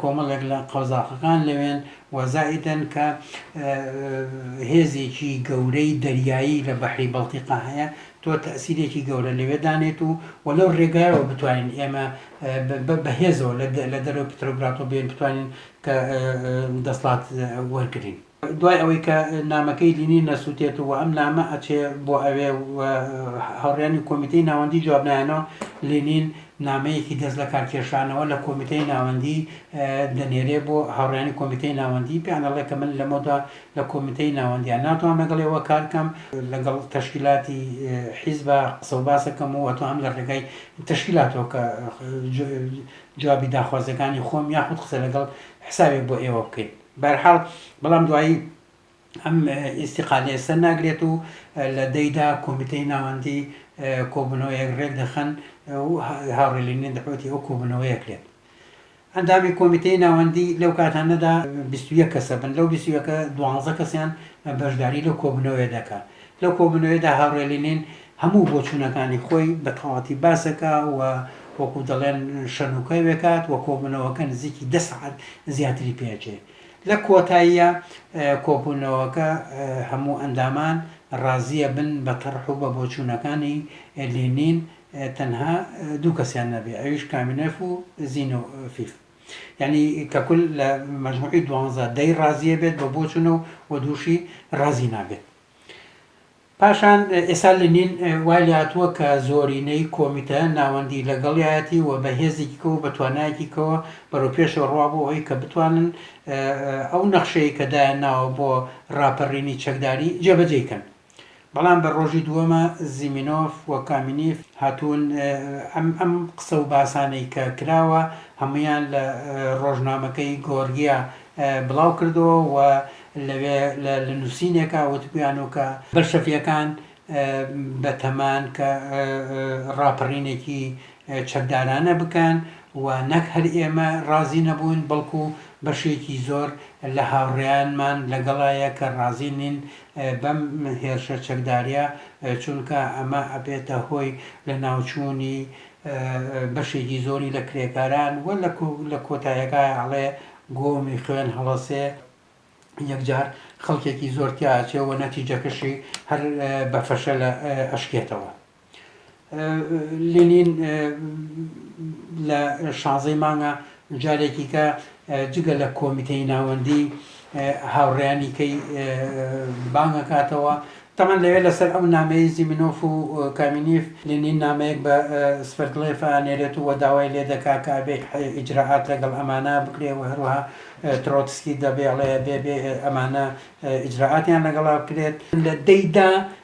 کۆمەڵێک لە قەزاقەکان لەوێن و زائیدەن کە هێزێکی گەورەی دەریایی لە بەحری بەڵتیقا هەیە، تۆ تەئسیرێکی گەورە لەوێ دانێت و و لەو رێگایەوە بتوانین ئێمە بە هێزەوە لە دەرەوەی پترۆگراتۆ بێن بتوانین کە دەسڵات وەرگرین. دوای ئەوەی کە نامەکەی لینین نەسوتێت و ئەم نامە ئەچێ بۆ ئەوێ و هاوڕیانی کۆمیتەی ناوەندی جواب نایەنەوە، لینین نامەیەکی دەست لەکار کێشانەوە لە کۆمیتەی ناوەندی دەنێرێ بۆ هاوڕیانی کۆمیتەی ناوەندی پێیان ئەڵێ کە من لەمەودا لە کۆمیتەی ناوەندیا ناتوانم لەگەڵ ئێوە کار کەم، لەگەڵ تەشکیلاتی حیزبا قسە و باس ئەکەم و ئەتوانم لە ڕێگای تەشکیلاتەوە کە جوابی داخوازیەکانی خۆم یاخود قسە لەگەڵ حسابێک بۆ ئێوە بکەین. بەرحاڵ بەڵام دوایی ئەم ئیستیقالەیە سەر ناگرێت و لە دەی دا کۆمیتەی ناوەندی کۆبوونەوەیەک رێک دەخەن و هاوڕێ لینین دەعوەتی ئەو کۆبوونەوەیە کرێت. ئەندامی کۆمیتەی ناوەندی لەو کاتانەدا بیست و یەک کەسە بن، لەو بیست و یەکە دوانزە کەسیان بەشداری لەو کۆبوونەوەیە دەکا. لەو کۆبوونەوەیەدا هاوڕێ لینین هەموو بۆچوونەکانی خۆی بە تەواوەتی باس دەکا و وەکوو دەڵێن شەنوکەی وێکات و کۆبوونەوەکە نزیکی دە سەعات زیاتری پێ ئەچێ. لە کۆتاییا کۆبوونەوەکە هەموو ئەندامان ڕازی ئەبن بە تەڕح و بە بۆچوونەکانی لینین تەنها دوو کەسیان نەبێ ئەویش کامینێف و زینۆفیف. یانی کە کول لە مەجموعی دوانزە، دەی ڕازی ئەبێت بە بۆچوونە و دووشی ڕازی نابێت. پاشان ئێستا لینین وای لێهاتووە کە زۆرینەی کۆمیتە ناوەندی لەگەڵیایەتی و بە هێزێکی کەەوە بە توانایەکی کەەوە بەرەو پێشەوە ڕوا بۆ ئەوی کە بتوانن ئەو نەخشەیە کە دایان ناوە بۆ ڕاپەڕینی چەکداری جێبەجێ کەن بەڵام بە ڕۆژی دووەمە زیمینۆف و کامینیف هاتوون ئەم ئەم قسە و باسانەی کە کراوە هەمویان لە ڕۆژنامەکەی گۆرگیا بڵاوکردەوە و لەوێ لە نووسینێکا وتبوویانۆ کە بەلشەفییەکان بەتەمان کە ڕاپەڕینێکی چەکدارانە بکەن و نەک هەر ئێمە ڕازی نەبووین بەڵکو بەشێکی زۆر لە هاوڕێیانمان لەگەڵایە کە ڕازی نین بەم هێرشە چەکداریە چونکە ئەمە ئەبێتە هۆی لەناوچوونی بەشێکی زۆری لە کرێکاران و لە کۆتایەکای ئەڵێ گۆمی خوێن هەڵەسێ یەکجار خەڵکێکی زۆر تیا ئەچێ و نەتیجەکەشی هەر بە فەشەل ئەشکێتەوە. لینین لە شانزەی مانگە جارێکی کە جگە لە کۆمیتەی ناوەندی هاوڕێیانی کەی بانگ ئەکاتەوە تەمان لەوێ لەسەر ئەو نامەی زیمنۆف و کامینیف لێنین نامەیەک بە سفەردڵێف ئانێرێت و داوای لێ دەکا کە ئەبێ ئیجراعات لەگەڵ ئەمانە بکرێ و هەروەها ترۆتسکی دەبێڵێ بێ بێ ئەمانە ئیجراعاتیان لەگەڵا بکرێت لە دەیدا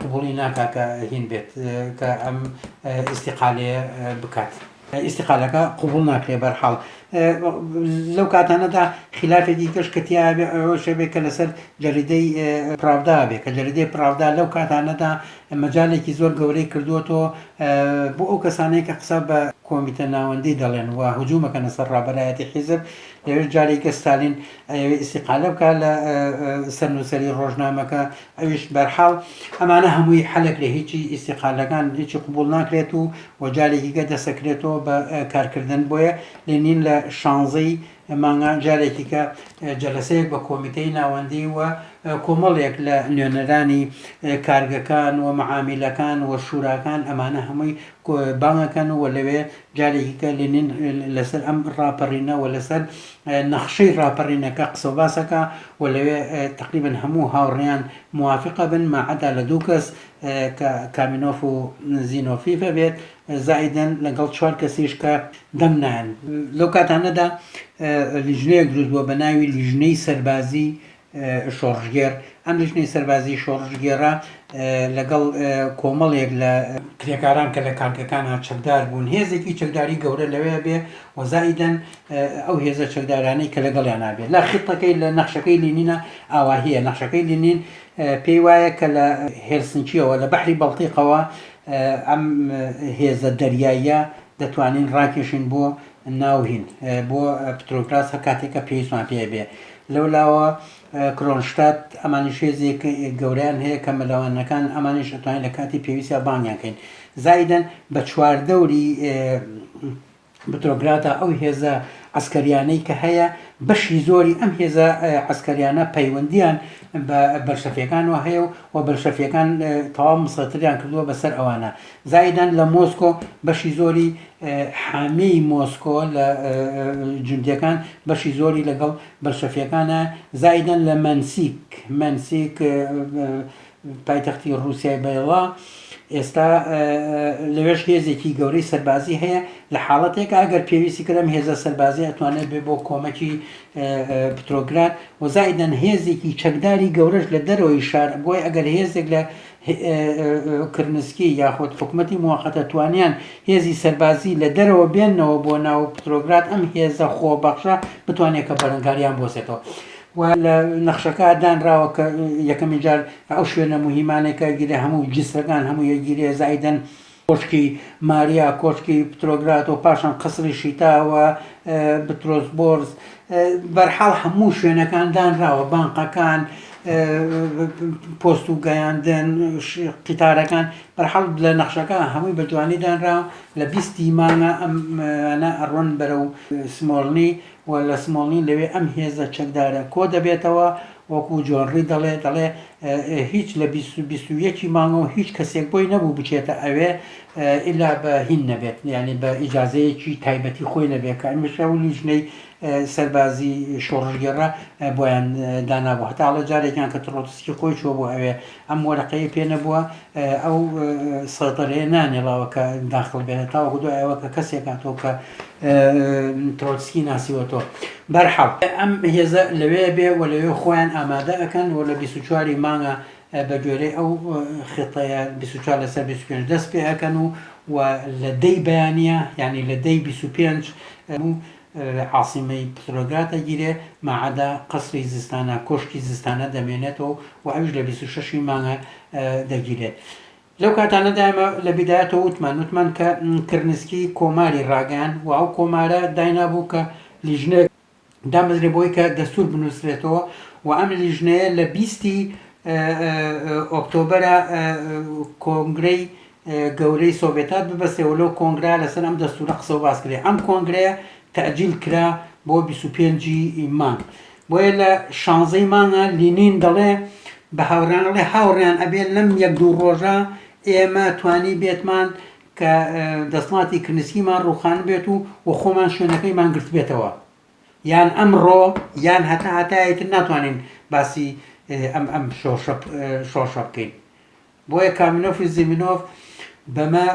قبوڵی ناکا کە هین بێت کە ئەم ئیستیقالەیە بکات. ئیستیقالەکە قبوڵ ناکرێ بەرحاڵ لەو کاتانەدا خلافێکی کەش کە تیاێ ئەوە شەبێ کە لەسەر جەریدەی پراودا بێ کە جەریدەی پراودا لەو کاتانەدا مەجالێکی زۆر گەورەی کردووەەوە بۆ ئەو کەسانەیە کە قسە بە کۆمیتە ناوەندی دەڵێن و هجوومەکەنە سەر ڕابەرایەتی حیزب ئێوەش جارێکە ستالین ئەیەوێ ئیستیقالە بکا لە سەر نووسەری ڕۆژنامەکە ئەویش بەرحاڵ ئەمانە هەمووی حەلەک لە هیچی ئیستیقالەکان هیچی قوبول ناکرێت و و جارێکیگە دەسەکرێتەوە بە کارکردن بۆیە لێنین لە شانزەی مانگا جارێکیکە جەلسەیەک بە کۆمیتەی ناوەندی و کۆمەڵێک لە نوێنەرانی کارگەکان و معامیلەکان و شوراکان ئەمانە هەمووی بانگەکەن و لەوێ جارێکی تر لینین لەسەر ئەم ڕاپەڕینە و لەسەر نەخشەی ڕاپەڕینەکە قسە و باس ئەکا و لەوێ تەقریبەن هەموو هاوڕێیان موافق ئەبن ما عدا لە دوو کەس کە کامینۆف و زینۆفیف ئەبێت زائیدەن لەگەڵ چوار کەسیش کە دەم نایەن. لەو کاتانەدا لیژنەیەک دروست بووە بە ناوی لیژنەی سەربازی شۆڕشگێڕ، ئەم لیژنەی سەربازیی شۆڕشگێڕە لەگەڵ کۆمەڵێک لە کرێکاران کە لە کارگەکانە چەکدار بوون، هێزێکی چەکداری گەورە لەوێ بێ و زائیدەن ئەو هێزە چەکدارانەی کە لەگەڵیانا بێ. لە خیتەکەی لە نەخشەکەی لینینە ئاواهییە، نەخشەکەی لینین پێی وایە کە لە هێلسنکییەوە، لە بەحری بەڵتیقەوە ئەم هێزە دەریاییە دەتوانین ڕاکێشین بۆ ناوهین بۆ پترۆگراس هەر کاتێک کە پێویستمان پێ بێ لەولاوە کرۆنشتات ئەمانیش هێزێک گەوریان هەیە کە مەلەوانەکان ئەمانیش ئەتوانین لە کاتی پێویستە بانگیان کەین زایدن بە چواردەوری بترۆگراتە ئەو هێزە ئەسکەریانەی کە هەیە بەشی زۆری ئەم هێزە ئەسکەریانە پەیوەندیان بە بەرشەفیەکانەوە هەیە و و بەرشەفیەکان تەواو مسەتریان کردووە بەسەر ئەوانە زایدان لە مۆسکۆ بەشی زۆری حامیی مۆسکۆ لە جوندیەکان بەشی زۆری لەگەڵ بەلشەفیەکانە زایدەن لە مەنسیک، Mensic، پایتەختی ڕوسیای بەیڵا، ئێستا لەوێش هێزێکی گەورەی سەربازی هەیە لە حاڵەتێکا ئەگەر پێویستی کرد ئەم هێزە سەربازیە ئەتوانێت بێ بۆ کۆمەکی پترۆگراد و زایدەن هێزێکی چەکداری گەورەش لە دەرەوەی شار بۆی ئەگەر هێزێک لە کرنسکی یاخود حکومەتی موەقەتە توانیان هێزی سەربازی لە دەرەوە بێننەوە بۆ ناو پترۆگراد ئەم هێزە خۆبەخشە بتوانێت کە بەرەنگاریان بۆسێتەوە و لە نەخشەکە دانراوە کە یەکەمین جار ئەو شوێنە مهمانێکە گیرە هەموو جسرەکان هەموو یەگیرێ زایدن کۆشکی ماریا، کۆشکی پترۆگراد و پاشان قەسری شیتا و بترۆسبۆرس، بەرحاڵ هەموو شوێنەکان دانراوە، بانقەکان، پۆست و گەیاندن، قیتارەکان، بەرحاڵ لە نەخشەکە هەمووی بە جوانی دانراوە، لە بیست ی مانگە ئەمانە ئەڕۆن بەرەو سمۆڵنی، و لە سمۆڵین لەوێ ئەم هێزە چەکدارە کۆ دەبێتەوە، وەکو جۆن ڕی دەڵێ، دەڵێ هیچ لە بیست و بیست و یەک ی مانگەوە هیچ کەسێک بۆی نەبوو بچێتە ئەوێ ئیلا بە هین نەبێت، یانی بە ئیجازەیەکی تایبەتی خۆی نەبێت، کە ئەمیش ئەو لیژنەی سەربازی شۆڕشگێڕە بۆیان دانابوو، هەتاڵە جارێکیان کە تڕۆتسکی خۆی چووە بۆ ئەوێ ئەم وەرەقەی پێ نەبووە ئەو سەیتەرەیە نانێڵاوە کە داخڵ بێنێت تاوەکو دوای ئەوە کە کەسێک هاتۆ کە ترۆتسکی ناسیوەتەوە بەرحاڵ ئەم هێزە لەوێ بێ و لەوێ خۆیان ئامادە ئەەکەن و لە 24 مانگە بە گوێرەی ئەو خێتەیە 24 لەسەر 25 دەست پێ ئەەکەن و و لە دەی بەیانە یعنی لە دەی 25 عاسیمەی پترۆگراد ئەگیرێ ماعەدا قەسری زستانە کۆشکی زستانە دەمێنێتەوە و ئەویش لە بیست و شەش ی مانگە دەگیرێت لەو کاتانەدا ئێمە لە بیدایەتەوە وتمان وتمان کە کرنسکی کۆماری ڕاگەیان و ئەو کۆمارە داینابوو کە لیژنەیەک دامەزرێ بۆی کە دەستور بنووسرێتەوە و ئەم لیژنەیە لە بیستی ئۆکتۆبەرا کۆنگرەی گەورەی سۆڤێتات ببەستێ و لەو کۆنگرە لەسەر ئەم دەستورە قسە و باس کرێ. ئەم کۆنگرەیە تەئجیل کرا بۆ بیست و پێنج ی مانگ. بۆیە لە شانزە ی مانگە لینین دەڵێ بە هاوڕێیان ئەڵێ هاوڕێیان ئەبێ لەم یەک دوو ڕۆژە ئێمە توانیبێتمان کە دەسڵاتی کرنسکیمان ڕووخانبێت و و خۆمان شوێنەکەیمان گرتبێتەوە. یان ئەمڕۆ یان هەتا هەتایەی تر ناتوانین باسی ئەم ئەم شۆشە شۆشە بکەین. بۆیە کامینۆف و زیمینۆف بەمە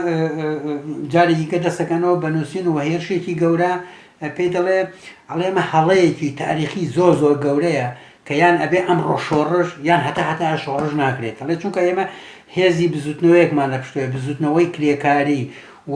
جارێکی گە دەسەکەنەوە بە نووسین و هێرشێکی گەورە پێی دەڵێ ئەڵێ ئەمە هەڵەیەکی تاریخی زۆر زۆر گەورەیە کە یان ئەبێ ئەم ڕۆشۆڕش یان هەتا هەتا شۆڕش ناکرێت ئەڵێ چونکە ئێمە هێزی بزوتنەوەیەکمان لە پشتێ بزوتنەوەی کرێکاری و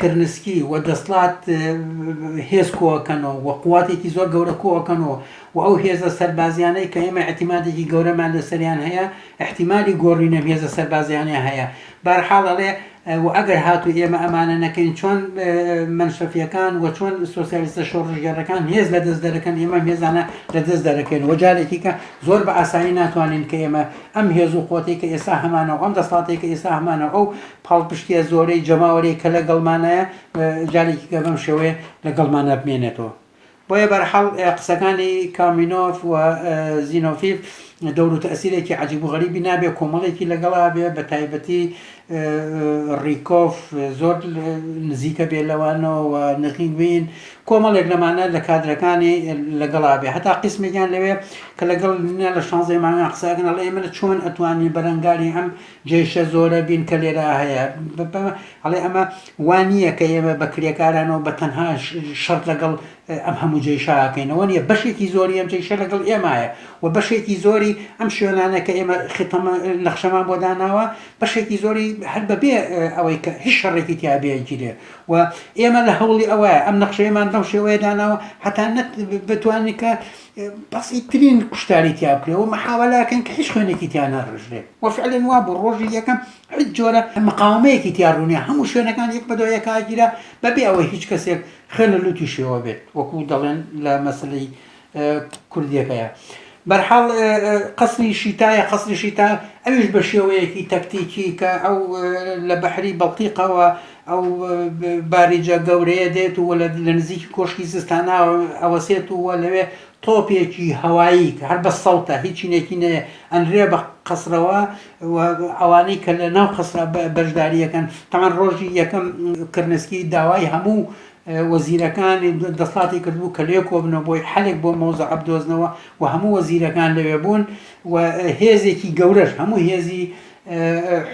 کرنسکی، و دەسڵات هێز کۆئەکەنەوە و قواتێکی زۆر گەورە کۆئەکەنەوە و ئەو هێزە سەربازیانەی کە ئێمە ئیعتیمادێکی گەورەمان لەسەریان هەیە ئیحتیمالی گۆڕینی ئەم هێزە سەربازیانەیان هەیە بارحاڵ ئەڵێ و ئەگەر هاتوو ئێمە ئەمانە نەکەین چۆن مەنشەفیەکان و چۆن سۆسیالیستە شۆڕشگێڕەکان هێز لە دەست دەرەکەن ئێمە ئەم هێزانە لە دەست دەرەکەین و جارێکیکە زۆر بە ئاسانی ناتوانین کە ئێمە ئەم هێز و قوتێک کە ئێستا هەمانە و ئەم دەسڵاتێک کە ئێستا هەمانە ئەو پاڵپشتیە زۆرەی جەماوەرێک کە لەگەڵمانایە جارێکی کە بەم شێوەیە لەگەڵمانە بمێنێتەوە. بۆیە بەرحاڵ قسەکانی کامینۆف و زینۆفیف دەورو تەسیرێکی عجیب و غەریبی نابێ کۆمەڵێکی لەگەڵا بێ بە تایبەتی ڕیکۆف زۆر نزیکە بێ لەوانەوە نغینگوین کۆمەڵێک لەمانە لە کادرەکانی لەگەڵا بێ هەتا قسمێکیان لەوێ کە لەگەڵ لە شانزەی مانگان قسەکەن ئەڵێ ئێمە چۆن ئەتوانی بەرەنگاری ئەم جێشە زۆرە بین کە لێرا هەیە ئەڵێ ئەمە وا نییە کە ئێمە بە کرێکارانەوە بە تەنها شەر لەگەڵ ئەم هەموو جێشاکەینەوە نیە بەشێکی زۆری ئەم جێشە لەگەڵ ئێمایە و بەشێکی زۆری ئەم شوێنانە کە ئێمە خیتەمە نەخشەمان بۆ داناوە بەشێکی زۆری هەر بەبێ ئەوەی کە هیچ شەڕێکی تیاابێگیرێ و ئێمە لە هەوڵی ئەوە ئەم نەخشەیەمان بەم شێوەیە داناوە هەتا بتوانین کە بەسیترین کوشتاری تیا بکرێ و محاوەلە کەن کە هیچ خوێنێکی تیا نەڕژرێت و فعلەن وا بوو ڕۆژی یەکەم هیچ جۆرە مقاومەیەکی تیا ڕوونیە هەموو شوێنەکان یەک بەدوای یەکا گیرا بەبێ ئەوەی هیچ کەسێک خوێن لە لوتی شێوە بێت وەکو دەڵێن لە مەسلەی کوردیەکەیە بەرحاڵ قەسری شیتایە قەسری شیتا ئەویش بە شێوەیەکی تەکتیکی کە ئەو لە بەحری بەڵتیقەوە ئەو باریجە گەورەیە دێت و لە نزیکی کۆشکی زستانە ئەوەسێت و لەوێ تۆپێکی هەوایی کە هەر بە سەوتە هیچی نێکی نەیە ئەنرێ بە قەسرەوە ئەوانەی کە لە ناو قەسرا بەشداریەکەن تەمان ڕۆژی یەکەم کرنسکی داوای هەموو وەزیرەکانی دەسڵاتی کردبوو کە لێ کۆبنەوە بۆی حلێک بۆ مۆزە عبدۆزنەوە و هەموو وەزیرەکان لەوێ بوون و هێزێکی گەورەش هەموو هێزی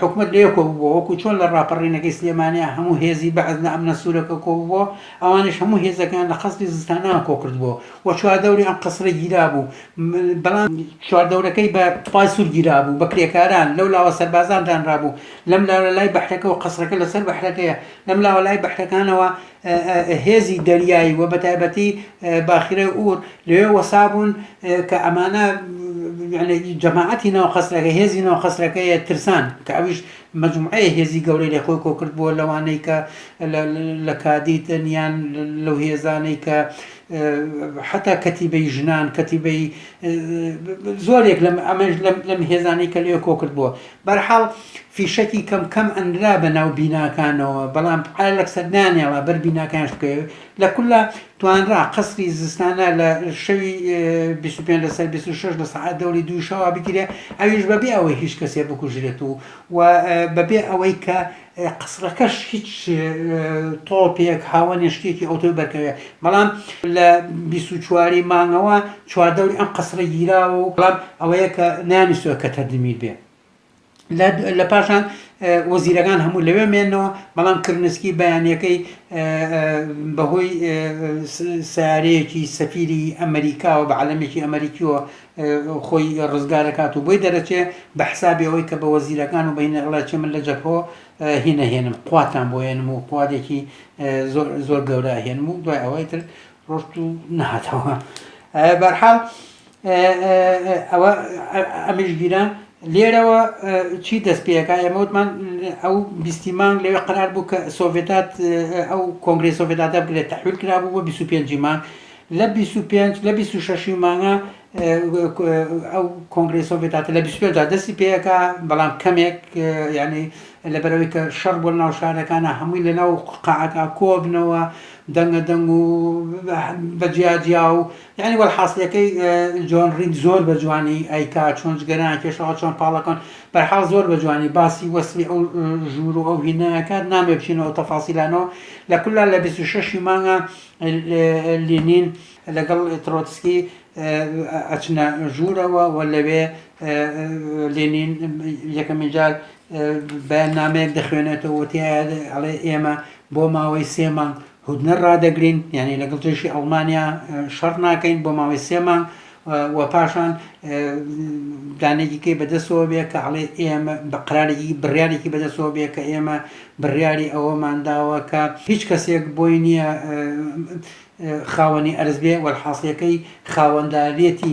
حکومەت لەوێ کۆببووە وەکو چۆن لە ڕاپەڕینەکەی سلێمانیە هەموو هێزی بەعس لە ئەمنە سورەکە کۆببووە ئەوانیش هەموو هێزەکەیان لە قەسری زستانەوە کۆکردبووە و چواردەوری ئەم قەسرە گیرابوو بەڵام چواردەورەکەی بە تۆپای سوور گیرابوو بە کرێکاران لەو لاوە سەربازان دانرابوو لەم لاوە لای بەحرەکەوە قەسرەکە لەسەر بەحرەکەیە لەم لاوە لای بەحرەکانەوە هێزی دەریایی و بەتایبەتی باخیرە ئور لەوێ وەسابوون کە ئەمانە جەماعەتی ناو قەسرەکە هێزی ناو قەسرەکەیە ترسان کە ئەویش مجموعەیە هێزی گەورەی لە خۆی کۆکرد بووە لەوانەی کە لە کادیتن یان لەو هێزانەی کە حتا کەتیبەی ژنان کەتیبەی زۆرێک لەم ئەمەش لەم هێزانەی کە لێ کۆکرد بووە بەرحاڵ فیشەکی کەم کەم ئەنرا بە ناو بیناکانەوە بەڵام ئالەکسە نانێڵا بەر بیناکانش بکەوێ لە کوللا توانرا قەسری زستانە لە شەوی 25 لەسەر 26 لە سەعات دەوری دووی شەوا بگیرێ ئەویش بەبێ ئەوەی هیچ کەسێ بکوژرێت و و بەبێ ئەوەی کە قەسرەکەش هیچ تۆپێک هاوەنێ شتێکی ئەوتۆی بەرکەوێ بەڵام لە بیست و چواری مانگەوە چواردەوری ئەم قەسرە گیراوە و بەڵام ئەوەیە کە نانیستوە کە تەردمیر بێ لە پاشان وەزیرەکان هەموو لەوێ مێنەوە بەڵام کرنسکی بەیانەکەی بەهۆی سارەیەکی سەفیری ئەمریکاوە بە عەلەمێکی ئەمریکیەوە خۆی ڕزگار ئەکات و بۆی دەرەچێ بە حسابی ئەوەی کە بە وەزیرەکان و بەینە ئەڵێ چێ من لە جەبهۆ هینە هێنم قواتان بۆ هێنم و قوادێکی زۆر زۆر گەورە هێنم و دوای ئەوەی تر ڕۆشت و نهاتەوە بەرحاڵ ئەوە ئەمیش گیرە لێرەوە چی دەست پێەکە ئێمەوتمان ئەو بیستی مانگ لەوێ قرار بوو کە سۆڤێتات ئەو کۆنگری سۆڤێتاتە بگرێت تحویل کرا بوو بۆ 25 مانگ لە بیست و پێنج لە بیست و شەش ی مانگا ئەو کۆنگرەی سۆڤێت هاتە لە بیست و پێنج دا دەستی پێ ئەکا بەڵام کەمێک یانی لەبەر ئەوەی کە شەڕ بووە لەناو شارەکانا هەمووی لەناو قەعەکا کۆبنەوە دەنگە دەنگ و بە جیا جیا و یانی وەڵحاسلەکەی جۆن ڕید زۆر بە جوانی ئەیکا چۆن جگەران کێشەوە چۆن پاڵەکەن بەرحاڵ زۆر بە جوانی باسی وەسفی ئەو ژوور و ئەو هینایەکات نامێ بچینەوە تەفاسیلانەوە لە کولا لە بیست و شەش ی مانگا لینین لەگەڵ ترۆتسکی ئەچنە ژوورەوە و لەوێ لینین یەکەمین جار بەیاننامەیەک دەخوێنێتەوە و تیایە ئەڵێ ئێمە بۆ ماوەی سێ مانگ هودنە ڕادەگرین یعنی لەگەڵ جێشی ئەڵمانیا شەڕ ناکەین بۆ ماوەی سێ مانگ و پاشان دانەیەکی کەی بەدەستەوە بێ کە ئەڵێ ئێمە بە قرارێکی بڕیارێکی بەدەستەوە بێ کە ئێمە بڕیاری ئەوەمان داوە کە هیچ کەسێک بۆی نییە خاوەنی ئەرز بێ وەرحاصلەکەی خاوەندارێتی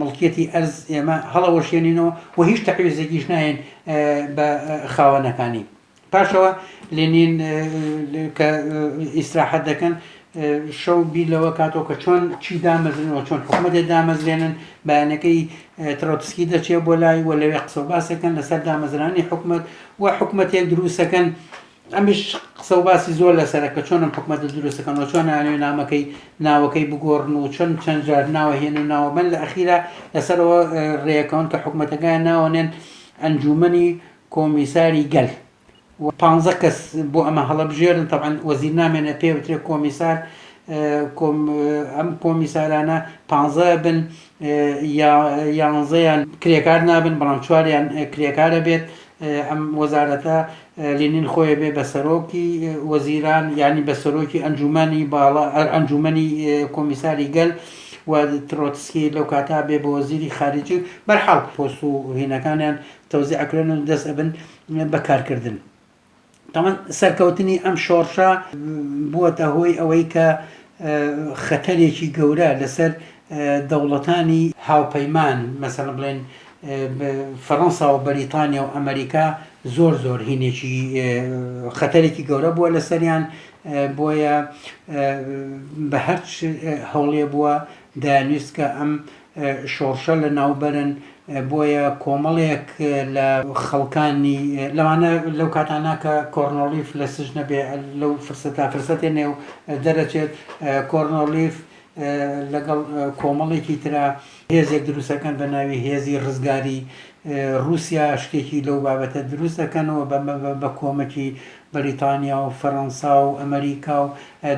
مڵکیەتی ئەرز ئێمە هەڵەوەشێنینەوە و هیچ تەعویزێکیش ناین بە خاوەنەکانی پاشەوە لێنین کە ئیسراحەت دەکەن شەو بیر لەوە کاتەوە کە چۆن چی دامەزرنەوە چۆن حکوومەتێ دامەزرێنن بەیانەکەی ترۆتسکی دەچێ بۆ لای و لەوێ قسە و باسەکەن لەسەر دامەزرانی حکوومەت و حکوومەتێک دروستەکەن ئەمیش قسە و باسی زۆر لەسەرە کە چۆنم حکوومەت دروستەکەن و چۆن ناوێ نامەکەی ناوەکەی بگۆڕن و چەند چەند جار ناوە هێن و ناوە من لە ئەخیرا لەسەرەوە ڕێەکەون کە حکوومەتەکەیان ناوەنێن ئەنجومنی کۆمیساری گەل و پانزە کەس بۆ ئەمە هەڵەبژێرن تەبعەن وەزیر نامێنێ پێ بترێ کۆمیسار ئەم کۆمیسارانە پانزە بن یانزەیان کرێکار نابن بەڵام چواریان کرێکارە بێت ئەم وەزارەتە لێنین خۆی بێ بە سەرۆکی وەزیران ینی بە سەرۆکی ئەنجومانی باڵا ئەنجومنی کۆمیساری گەل و ترۆتسکی لەو کاتا بێ بۆ وەزیری خارجی بەرحاڵ پۆست و هینەکانیان تەوزیع ئەکرێن و دەست ئەبن بە کارکردن تاوان سەرکەوتنی ئەم شۆڕشە بووەتە هۆی ئەوەی کە خەتەرێکی گەورە لەسەر دەوڵەتانی هاوپەیمان مەسەن بڵێن فەڕەنسا و بەریتانیا و ئەمریکا زۆر زۆر هینێکی خەتەرێکی گەورە بووە لەسەریان بۆیە بە هەرچ هەوڵێ بووە دانویست کە ئەم شۆڕشە لەناوبەرن بۆیە کۆمەڵێک لە خەڵکانی لەوانە لەو کاتانە کە کۆرنۆلیف لە سژنە بێ لەو فرسەتا فرسەتێ نێو دەرەچێت کۆرنۆلیف لەگەڵ کۆمەڵێکی ترا هێزێک دروستەکەن بە ناوی هێزی ڕزگاری رووسیا شتێکی لەو بابەتە دروست دەکەنەوە بە کۆمەکی بەریتانیا و فەرەنسا و ئەمەریکا و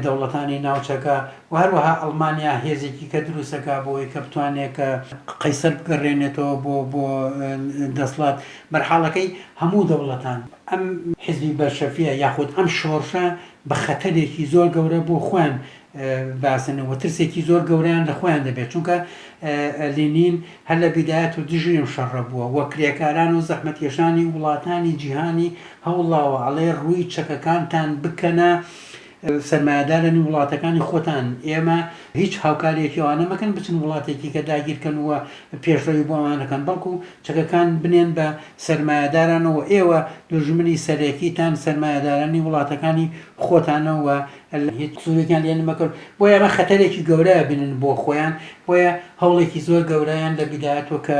دەوڵەتانی ناوچەکە و هەروەها ئەڵمانیا هێزێکی کە دروست دەکات بۆ ئەوەی کە بتوانێت کە قەیسەر بگەڕێنێتەوە بۆ بۆ دەسڵات بەرحاڵەکەی هەموو دەوڵەتان ئەم حیزبی بەلشەفیە یاخود ئەم شۆڕشە بە خەتەرێکی زۆر گەورە بۆ خۆیان باسن وترسێکی زۆر گەورەیان لە خۆیان دەبێت چونکە لینین هەر لە بیدایەت و دژی ئەم شەڕە بووە وە کرێکاران و زەحمەتکێشانی وڵاتانی جیهانی هەوڵاوە ئەڵێ ڕووی چەکەکانتان بکەنە سەرمایەدارانی وڵاتەکانی خۆتان ئێمە هیچ هاوکاریەکی ئەوانە مەکەن بچن وڵاتێکی کە داگیرکەن وە پێشڕەوی بۆ ئەوانەکەن بەڵکو چەکەکان بنێن بە سەرمایەدارانەوە ئێوە دوژمنی سەرەکیتان سەرمایەدارانی وڵاتەکانی خۆتانەوە اللە هیچ سوودێکیان لێ نەمەکرد بۆیە ئەمە خەتەرێکی گەورە بینن بۆ خۆیان بۆیە هەوڵێکی زۆر گەورەیان لە بیداتوە کە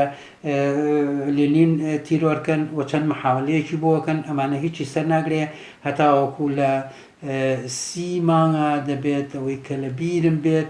لێنین تیرۆرکەن و چەند محاولەیەکی بۆکەن ئەمانە هیچی سەر ناگرێ هەتاوەکو لە سی مانگا دەبێت ئەوەی کە لە بیرم بێت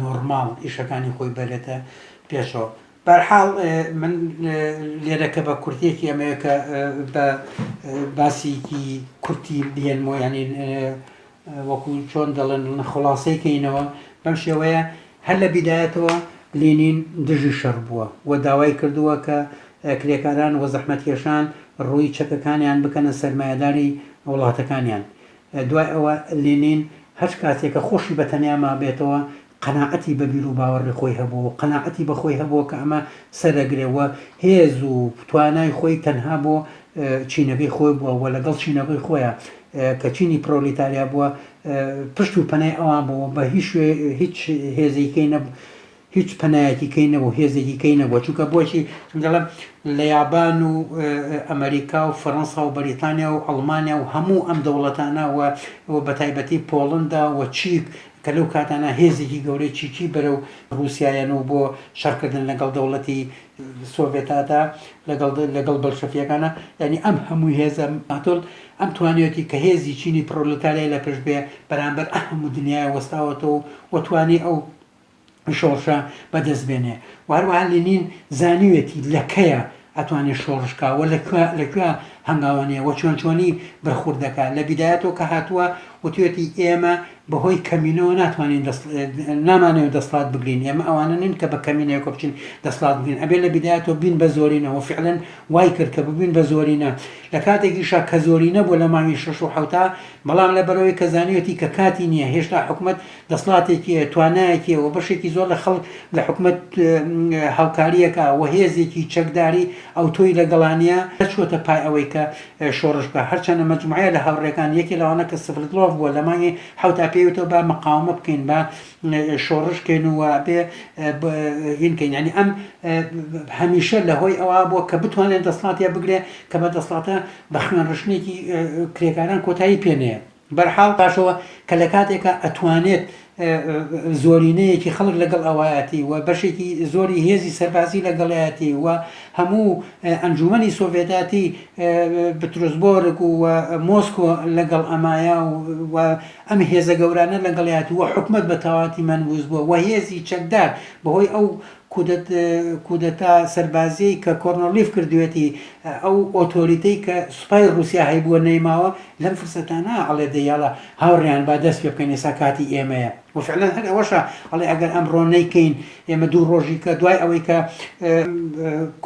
نۆرماڵ ئیشەکانی خۆی بەرێتە پێشەوە بەرحاڵ من لێرە کە بە کورتێکی ئەمەیە کە بە باسیکی کورتی بێنمەوە ینی وەکو چۆن دەڵێن خلاصەی کەینەوە بەم شێوەیە هەر لە بیدایەتەوە لینین دژی شەڕ بووە و داوای کردووە کە کرێکاران و زەحمەتکێشان ڕووی چەکەکانیان بکەنە سەرمایهداری وڵاتەکانیان دوای ئەوە لینین هەچ کاتێ کە خۆشی بە تەنیا مابێتەوە قەناعەتی بە بیرو باوەڕی خۆی هەبووە و قەناعەتی بە خۆی هەبووە کە ئەمە سەرەگرێ و هێز و توانای خۆی تەنها بۆ چینەکەی خۆی بووە و لەگەڵ چینەکەی خۆیا کە چینی پرۆلیتاریا بووە پشت و پەنای ئەوان بووە بە هیچ هیچ هێزیکەی نەبوو هیچ پەنایەکی کەی نەبوو هێزێکی کەی نەبووە چونکە بۆچی دەڵێم لە یابان و ئەمریکا و فەرەنسا و بەریتانیا و ئەڵمانیا و هەموو ئەم دەوڵەتانە و بە تایبەتی پۆڵندا و چیک کە لەو کاتانە هێزێکی گەورەی چیکی بەرەو رووسایەن و بۆ شەڕکردن لەگەڵ دەوڵەتی سۆڤێتادا لەگەڵ لەگەڵ بەلشەفیەکانە یعنی ئەم هەموو هێزە ماتۆل ئەم توانیەتی کە هێزی چینی پرۆلتاریای لە پشت بێ بەرامبەر ئەهموو دنیای وەستاوەتەوە و توانی ئەو شۆڕشە بەدەست بێنێ و هەروەها لینین زانیوێتی لە کەیە ئەتوانێ شۆڕش کا و لە کوێ لە کوێ هەنگاوانەیە و چۆن چۆنی بەرخورد دەکا لە بیدایەتەوە کە هاتووە وتوێتی ئێمە بەهۆی کەمینەوە ناتوانین دەست نامانەوە دەسڵات بگرین ئێمە ئەوانە نین کە بە کەمینەوە کە بچین دەسڵات بگرین ئەبێ لە بیدایەتەوە بین بە زۆرینەوە فعلەن وای کرد کە ببین بە زۆرینە لە کاتێکیشا کە زۆرینە بۆ لە ماوی شش و حوتا بەڵام لە بەرەوەی کە زانیوێتی کە کاتی نییە هێشتا حکوومەت دەسڵاتێکی هەیە، توانایەکی هەیە و بەشێکی زۆر لە خەڵک لە حکومەت هاوکاری ئەکا و هێزێکی چەکداری ئەوتۆی لەگەڵانیە، نەچووەتە پای ئەوەی کە شۆڕش بکا، هەرچەندە مەجموعەیە لە هاوڕێکان، یەکێ لەوانە کە سڤردلۆڤ بووە لە مانگی حەوتا پێی وتەوە با مقاومە بکەین، با شۆڕش کەین و وابێ هین کەین، یانی ئەم هەمیشە لە هۆی ئەوە بووە کە بتوانێ دەسڵاتێ بگرێ کە بە دەسڵاتە بە خوێنڕشتنێکی کرێکاران کۆتایی پێ نەیە. بەرحاڵ پاشەوە کە لە کاتێکا ئەتوانێت زۆرینەیەکی خەڵک لەگەڵ ئەوایەتی و بەشێکی زۆری هێزی سەربازی لەگەڵایەتی و هەموو ئەنجومەنی سۆڤێتاتی بترۆزبۆرگ و مۆسکۆ لەگەڵ ئەمایە و ئەم هێزە گەورانە لەگەڵیات و حکومت بە تەواتی مەنبووز بووە و هێزی چەکدار بەهۆی ئەو کودەتا سەربازیەی کە کۆرنڵیف کردویەتی ئەو ئۆتۆریتەی کە سوپای ڕوسیا هەیبوە نەیماوە لەم فرسەتانە ئەڵێ دەی یاڵا هاوڕێیان با دەست پێ بکەین ئێستا کاتی ئێمەیە وە فعلەن هەر ئەوەشە ئەڵێ ئەگەر ئەمڕۆ نەیکەین ئێمە دوو ڕۆژی کە دوای ئەوەی کە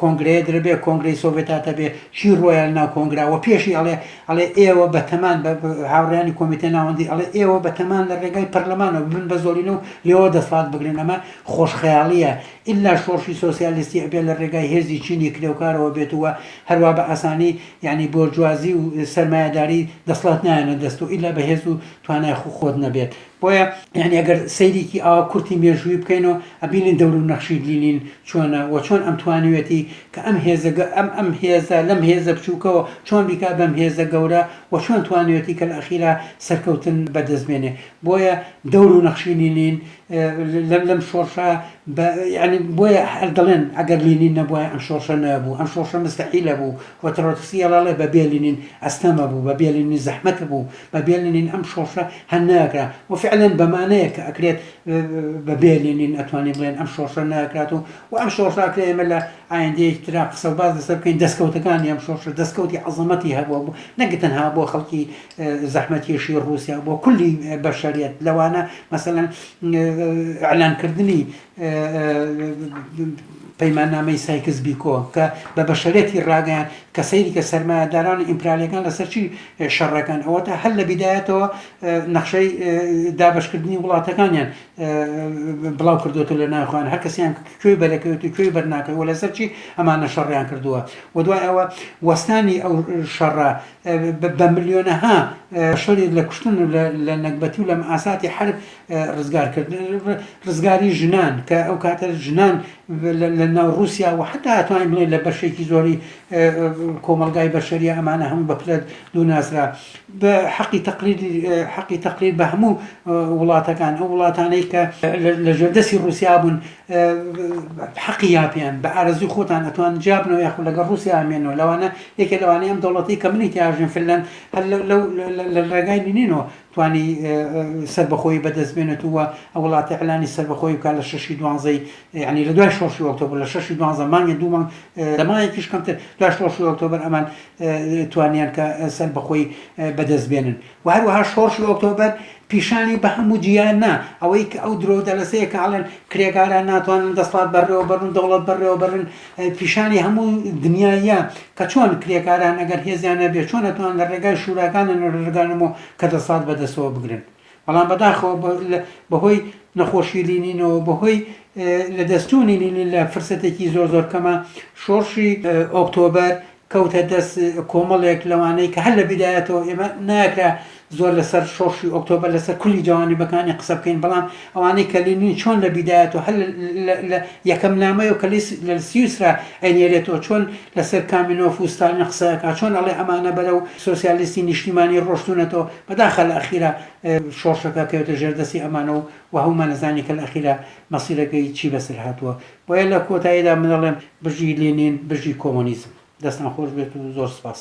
کۆنگرەیە درەبێ کۆنگرەی سۆڤێتاتە بێ چی ڕۆیال ناو کۆنگرا وە پێشی ئەڵێ ئەڵێ ئێوە بە تەمان بە هاوڕێیانی کۆمیتە ناوەندی ئەڵێ ئێوە بە تەمان لە ڕێگای پەرلەمانەوە ببن بە زۆڵینە و لێوە دەسڵات بگرن ئەمە خۆشخەیاڵییە ئیللا شۆڕشی سۆسیالیستی ئەبێ لە ڕێگای هێزی چینی کرێوکارەوە بێت و هەروا بە ئاسانی یانی بۆرجوازی و سەرمایەداری دەسڵات نایەنە دەست و ئیللا بە هێز و توانای خو خۆت نەبێت بۆیە یانی ئەگەر سەیرێکی ئاوا کورتی مێژووی بکەین و ئەبینین دەور و نەخشی لینین چۆنە و چۆن ئەم توانیوێتی کە ئەم هێزە گە ئەم ئەم هێزە لەم هێزە بچووکەوە چۆن بیکا بەم هێزە گەورە و چۆن توانیوێتی کە لە ئەخیرا سەرکەوتن بە دەست بێنێ بۆیە دەور و نەخشی لینین لەم لەم شۆڕشە بە یعنی بۆیە هەر دەڵێن ئەگەر لینین نەبووە ئەم شۆڕشە نەبوو ئەم شۆڕشە مستحیلە بوو و ترۆتسکی ئەڵێ بە بێلینین ئەستەمە بوو بە بێلینین زەحمەت بوو بە بێلینین ئەم شۆڕشە هەر ناکرا و فعلا بەمانەیە کە ئەکرێت بە بێلینین ئەتوانین بڵێن ئەم شۆڕشە ناکرات و و ئەم شۆڕشە ئەکرێ ئێمە لە ئایندەیەکی ترا قسە و باز لەسەر بکەین دەستکەوتەکانی ئەم شۆڕشە دەستکەوتی عەزەمەتی هەبووە بوو نەک تەنها بۆ خەڵکی زەحمەتکێشی ڕووسیا بۆ کولی بەشەریەت لەوانە مەسەەن ئەلانکردنی پەیماننامەی سایکس بیکۆ کە بە بەشەرەتی ڕاگەیان کە سەیری کە سەرمایهداران ئیمپرالیەکان لەسەرچی شەڕەکان ئەوە تا هەر لە بیدایەتەوە نەخشەی دابشکردنی وڵاتەکانیان بڵاو کردوێتە لە ناخوان هەر کەسیان کوێ بەرەکەوێت و کوێی بەرناکەەوە لەسەرچی ئەمانە شەڕیان کردووە و دوای ئەوە وەستانی ئەو شەڕە بە ملیۆنەها شەرید لە کوشتن و لە نەگبەتی و لە مەئاساتی حەرب ڕزگار کرد ڕزگاری ژنان کە ئەو کاتە ژنان لە ناو رووسیا و حتا توانین بڵێ لە بەشێکی زۆری کۆمەلگای بەشەریە ئەمانە هەموو بە پلە دووناسرا بە حەقی تەقلید حەقی تەقلید بە هەموو وڵاتەکان ئەو وڵاتانەی کە لە ژێردەسی رووسیا بوون حەقی یاپیان بە ئارەزووی خۆتان ئەتوان جیابنەوە یاخود لەگەڵ ڕووسیا ئەمێنەوە لەوانە یەکێ لەوانەی ئەم دەوڵەتەی کە منی تیاژین فلەن هەر لەو لە ڕێگای نینۆ توانی سەربەخۆی بەدەست بێنێت و ئە وڵاتی ئەلانی سەربەخۆی بکە لە شەشی دوانزەی ینی لە دوای شۆشی ئۆکتۆبر لە شەشی دوانزە مانگە دوومان لەمایەکیش کەمتر دوای شۆشی ئۆکتۆبر ئەمان توانیان کە سەربەخۆی بەدەست بێنن وە هەروەها شۆڕشی ئۆکتۆبەر پیشانی بە هەموو جیهان نا ئەوەی کە ئەو درۆو دەلەسەیە کە ئەڵێن کرێکاران ناتوانن دەسڵات بەڕێوە بەرن و دەوڵەت بەڕێوە بەرن پیشانی هەموو دنیاییە کە چۆن کرێکاران ئەگەر هێزیان نەبێ چۆن ئەتوان لە ڕێگای شوراکانن و ڕێگانەمۆ کە دەسڵات بە دەستەوە بگرن بەڵام بەداخەوە بە لە بە هۆی نەخۆشی لینینەوە بە هۆی لە دەست چوونی لینین لە فرسەتێکی زۆر زۆر کەما شۆڕشی ئۆکتۆبەر کەوتە دەست کۆمەڵێک لەوانەی کە هەر لە بیدایەتەوە ئێمە ناکرا زۆر لەسەر شۆڕشی ئۆکتۆبەر لەسەر کولی جوانیبەکانی قسە بکەین بەڵام ئەوانەی کە لینین چۆن لە بیدایەتەوە هەر لە یەکەم نامەیە کە لە سیوسرا ئەینێرێتەوە چۆن لەسەر کامینۆف و ستالین قسەکە چۆن ئەڵێ ئەمانە بەرە و سۆسیالیستی نیشتیمانی ڕۆشتونەتەوە بەداخە لە ئەخیرا شۆڕشەکە کەوێتە ژێردەستی ئەمانە و وهومانەزانی کە لە ئەخیرا مەسیرەکەی چی بەسەر هاتووە بۆیە لە کۆتاییدا من ئەڵێم بژی لینین بژی کۆمۆنیزم. دەستان خۆش بێت و زۆر سپاس.